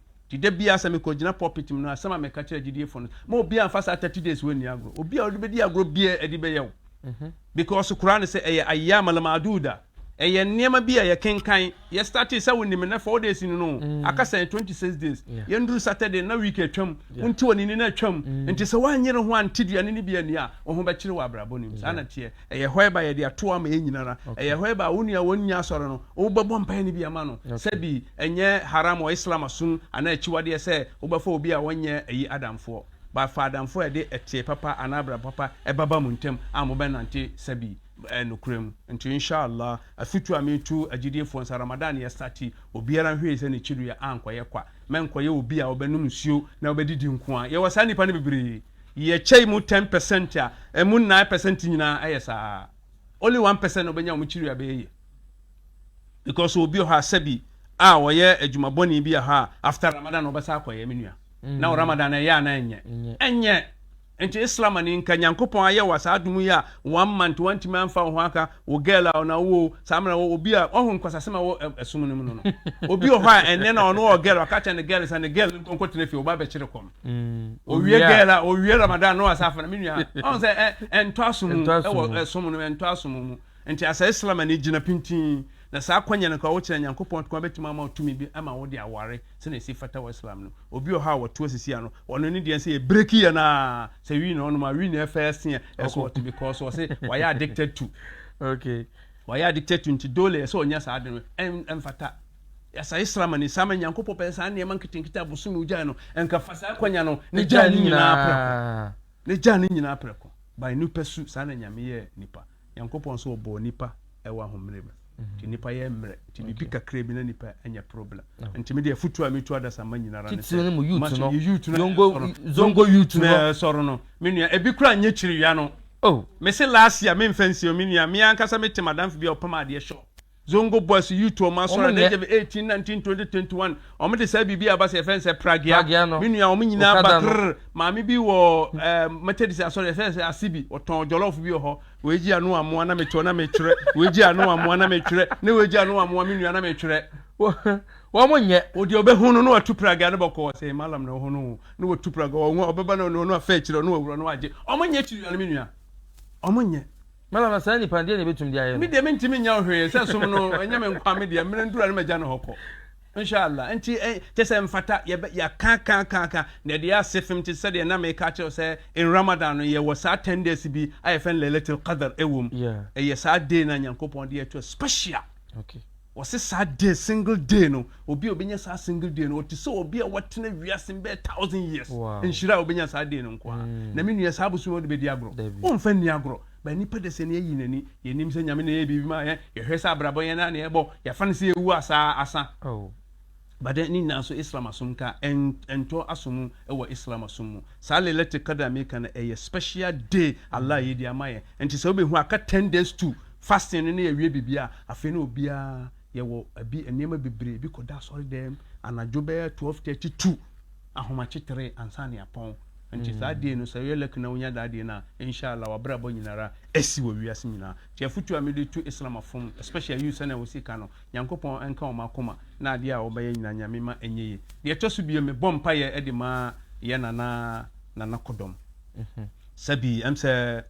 Nti da biara sɛ mekɔgyina pulpit mu no, asɛm a meka kyerɛ agyidiefo no, ma obiara mfa saa thirty days wei nni agorɔ. Obi a ɔde bɛdi agorɔ biara ɛde bɛyɛ wo. Mhm. Because Koraa no sɛ ɛyɛ ayyam al-ma'duda. Ɛyɛ nneɛma bi a yɛkenkan, yɛ startee sɛ wonim nnɛ four days ni no, mm. aka sɛ 26 days. Yɛnduru Saturday na week atwam, wonte wɔ ne ni no atwam. Mm. Nti sɛ woanyere ho ante duane no bi ani a, wo ho bɛkyere wɔ abrabɔ no mu. Saa na teɛ. Ɛyɛ hɔɛb a yɛde ato ama yɛn nyinara. Ɛyɛ hɔɛb a wo nua a wɔnnya asɔre no, wobɛbɔ mpaeɛ no bi ama no. Sɛbi ɛnyɛ haram wɔ Islam asom anaa akyiwadeɛ sɛ wobɛfa obi a ɔnyɛ ayi adamfoɔ. But fa adamfoɔ a ɛde ɛteɛ papa anaa abrabɔ papa ɛbɛba mo ntam a mobɛnante sɛbi ɛɛ nokorɛ mu. Nti Insha'Allah, afutuo a meretu agyidiefoɔ nsa, Ramadan no yɛstate, obiara nhwɛ yie sɛ ne kyiduya ankɔyɛ kwa. Mɛnkɔyɛ obi a ɔbɛnom nsuo na ɔbɛdidi nko ara. Yɛwɔ saa nnipa no bebree. Yɛ kyɛe mu ten pɛsɛnt a, ɛmu nnan pɛsɛnt nyinaa ɛyɛ saa. Only one pɛsɛnt na ɔbɛnya wɔn kyiri a ɛbɛyɛ yie. Because obi wɔ hɔ a sɛbi a ɔyɛ adwuma bɔne bi wɔ hɔ a, after Ramadan na ɔbɛsan akɔ yɛ, me nua. Na wɔ Ramadan no ɛyɛ anaa ɛnyɛ? Ɛnyɛ. Nti Islam ni nka Nyankopɔn ayɛ wo saa adom yi a, one month wantumi amfa wo ho anka wo girl a ɔna wo o, saa mmerɛ wɔ obi a, wahu nkwasasɛm a ɛwɔ ɛsom no mu no no. Obi wɔ hɔ a ɛnnɛ na ɔno ɔwɔ girl, waka akyerɛ ne girl sɛ ne girl no nkɔ nkɔtena fie, wo ba bɛkyere kɔm. Mm, owie gɛl a owie ramadan na wasa afana me nua ɔn sɛ ɛntɔ asom mu ɛwɔ ɛsom no ɛntɔ asom mu nti asɛ islam ani gyina pintin na saa kwanya no kora wokyerɛ nyankopɔn kwan bɛtumi ama tumi bi ama wode aware sɛnea ɛsi fata wɔ islam no obi ɔha a wɔto asisi ano ɔno ne deɛ sɛ yɛbreki yɛ no a sɛ wii na ɔnom a wii na ɛfɛ ɛseɛ ɛso ɔte because wɔ se wayɛ addicted to okay wayɛ addicted to nti dole ɛsɛ ɔnya saa ade no ɛmfata Yɛasɛe sram ani. Saa ma Nyankopɔn pɛɛ saa nneɛma nketenkete a bosome ogyae no nka fa saa akwanya no na gyaa ne nyinaa prɛko. Na gyaa ne nyinaa prɛko. By nipa su, saa na Nyame yɛɛ nipa. Nyankopɔn nso ɔbɔɔ nipa wɔ ahommerɛ mu. Nti nipa yɛ mmerɛ. Nti biribi kakra bi na nipa anya problem. Nti me deɛ afutuo a metu adasamma nyina ara ne sɛ, mma so yi youth no a ɛsɔre no, zongo youth no a ɛsɔre no, me nua, ɛbi koraa nyɛ kyiriwia no. Oh! Mese last year, menfa nsie o, me nua, me ankasa mete madamfo bi a ɔpam adeɛ shop, Zongo Boys Youth wɔn asɔre na ɛyɛ eighteen nineteen twenty twenty one wɔn de saa biribi aba sɛ yɛfɛ nsɛ pragea me nua wɔn nyinaa ba krrr maame bi wɔ ɛɛ eh, methodist asɔre yɛfɛ sɛ ase bi ɔtɔn jollof bi wɔ hɔ wɔagyi ano amoa na metɔ na metwerɛ wɔagyi ano amoa na metwerɛ ne wɔagyi ano amoa me nua na metwerɛ wɔn nyɛ wɔde ɔbɛhu no na watu pragea no bɔkɔ sɛ malam na ɔho no na watu pragea wɔn ɔbɛba na ɔno afɛ akyire ɔno awura no agye wɔn nyɛ akyiri nua no me nua wɔn nyɛ Mɛma no saa nipa no, deɛ na ɛbɛtumi de ayɛ no? Me deɛ mentimi nyɛ wo hwee, sɛ som no ɛnyɛ me nkoa, me deɛ mmerɛ nduru a na magya no hɔ kɔ. Inshallah, nti kyɛ sɛ mfata yɛbɛ yɛaka aka aka aka na ɛde yɛ ase fem te sɛdeɛ na meka akyerɛ wo sɛ in Ramadan no yɛwɔ saa ten days bi a yɛfrɛ no Laylatul Qadr ɛwɔ mu, ɛyɛ saa day no a Nyankopɔn de yɛ to a special. Wɔse saa day, single day no, obi a obenya saa single day no, ɔte sɛ obi a watena wiase mu bɛyɛ thousand years. Nhyira a obenya saa day no nko ara. Na me nua, saa bosome a wode bɛdi agorɔ, womfa nni agorɔ. But nnipa de sɛ ne ayi n'ani, yɛnnim sɛ Nyame na ɛyɛ biribi maa yɛn, yɛhwɛ sɛ abrabɔ yɛn ara na yɛbɔ, yɛfa no sɛ yɛwu a saa, asa. But then ne nyinaa nso Islam asom nka ɛntɔ aso mu wɔ Islam asom mu. Saa Laylatul Qadr a meka no ɛyɛ special day Allah ayi de ama yɛn. Nti sɛ wobɛhu aka ten days to fasting no na yɛawie biribiara a, afei na obiara yɛwɔ ɛbi nneɛma bebree, ebi kɔda asɔredɛm anadwo bɛyɛ twelve thirty two ahomakye tere ansa na yɛapɔn. Nti saa day no sɛ woyɛ lucky na wonya that day no a, Inshallah w'abrabɔ nyinara asi wɔ wiase nyinaa. Nti afotu a mede tu Islam afom especially you sɛnea wosi ka no, Nyankopɔn nka wɔn akoma na adeɛ a wɔbɛyɛ nyinaa Nyame ma ɛnyɛ yie. Deɛ ɛtɔ so bio, mebɔ mpaeɛ de ma yɛn Nana Nana Kodom. Sɛbi, ɛm sɛ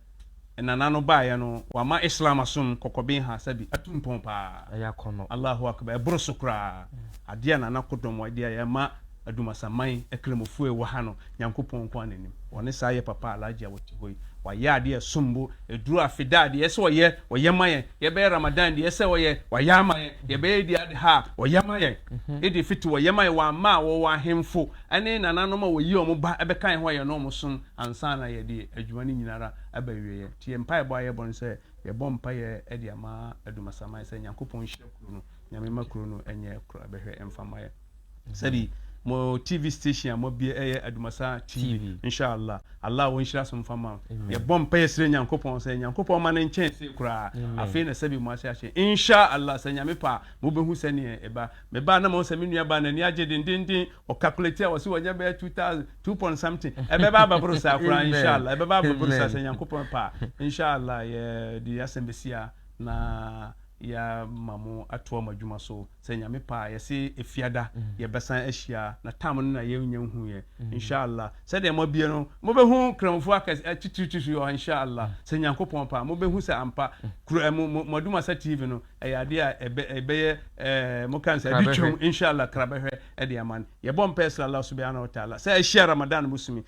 Nana no baeɛ no, wama Islam asom kɔkɔben ha, sɛbi, atu mpɔn paa. Ɛyɛ akɔnnɔ. Allahu Akbar, ɛboro so koraa. Adeɛ a Nana Kodom de ayɛ, ɛma Adumasaman akramofo a ɛwɔ ha no, Nyankopɔn nko ara na nim. Wɔne saa yɛ papa Alhaji a wɔte hɔ yi. Wayɛ ade a ɛsom bo. Aduru afeda a deɛ ɛyɛ sɛ ɔyɛ, ɔyɛ ma yɛn. Yɛbɛyɛ Ramadan deɛ ɛyɛ sɛ ɔyɛ, wayɛ ama yɛn. Yɛbɛyɛ Eid Adha a, ɔyɛ ma yɛn. Eid Fitr ɔyɛ ma yɛn. Wamma a wɔwɔ ahemfo ne nananom a wɔyi wɔn ba bɛka yɛn hɔ a yɛne wɔn som ansa na yɛde adwuma no nyina ara aba awieɛ. Nti yɛn mpaebɔ a yɛbɔ ne sɛ, yɛbɔ mpaeɛ de ama Adumasaman sɛ Nyankopɔn nhyira kuro no, Nyame ma kuro no nyɛ kuro a ɛbɛhwɛ mfa mma yɛn. sɛbi mo tv station a moabie ɛyɛ adumasa tv inshallah allah wo nhyira so mfa ma yɛbɔ mpa yɛ srɛ nyankopɔn sɛ nyankopɔn ma no nkyɛn se koraa afei na sɛbi mo ase ahyɛ inshallah sɛ nyame pa mobɛhu sɛneɛ ɛba mebaa na mahu sɛ me nua baa n'ani agye dendenden ɔkakulate a wɔse wɔnya bɛyɛ 2000 2 point something ɛbɛba abɛboro saa koraa inshallah ɛbɛba abɛboro saa sɛ nyankopɔn pa inshallah yɛde asɛm bɛsia na yɛama mo atoa mo adwuma so Sɛ Nyame pɛ a yɛse efiada yɛbɛsan ahyia na time no na yɛnnya nhu yɛ insha'Allah sɛdeɛ moabie no mobɛhu kramfoɔ akɛse atitiritiriti wɔ hɔ insha'Allah sɛ Nyankopɔn pɛ a mobɛhu sɛ ampa kura mo mo moadumasa TV no ɛyɛ adeɛ a ɛbɛ ɛbɛyɛ ɛɛ moka no sɛ adi twam insha'Allah krabɛhwɛ ɛde ama no yɛbɔ mpaɛ srɛ Allah subihanahu wa ta'ala sɛ ahyia Ramadan bosome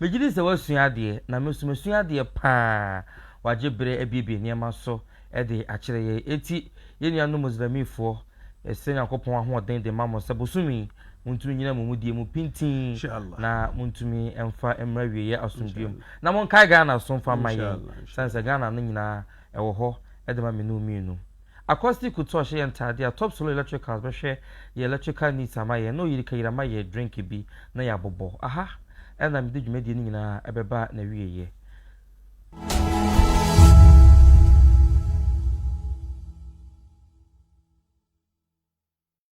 Megye di sɛ woasua adeɛ, na me nso masua adeɛ pa ara. Wɔagye berɛ abuebue nneɛma so de akyerɛ yɛn. Enti, yɛn nuanom Muslimifoɔ, yɛsrɛ Nyankopɔn ahoɔden de ma mo sɛ bosome yi, montumi nnyina mo mudie mu pintinn, na montumi mfa mmra awieeɛ asomdwoeɛ mu. Na monkae Ghana nso mfa mma yɛn, ɛsiane sɛ Ghana no nyinaa wɔ hɔ de ma me ne wo mmienu. Accosti Couture hyɛ yɛn ntaadeɛ a Top Solo Electricals bɛhwɛ yɛn electrical needs ama yɛn na ɔyiri kayira ma yɛn drink bi na yɛabobɔ. Aha ara na mede dwumadie no nyinaa ɛbɛba n'awieɛ.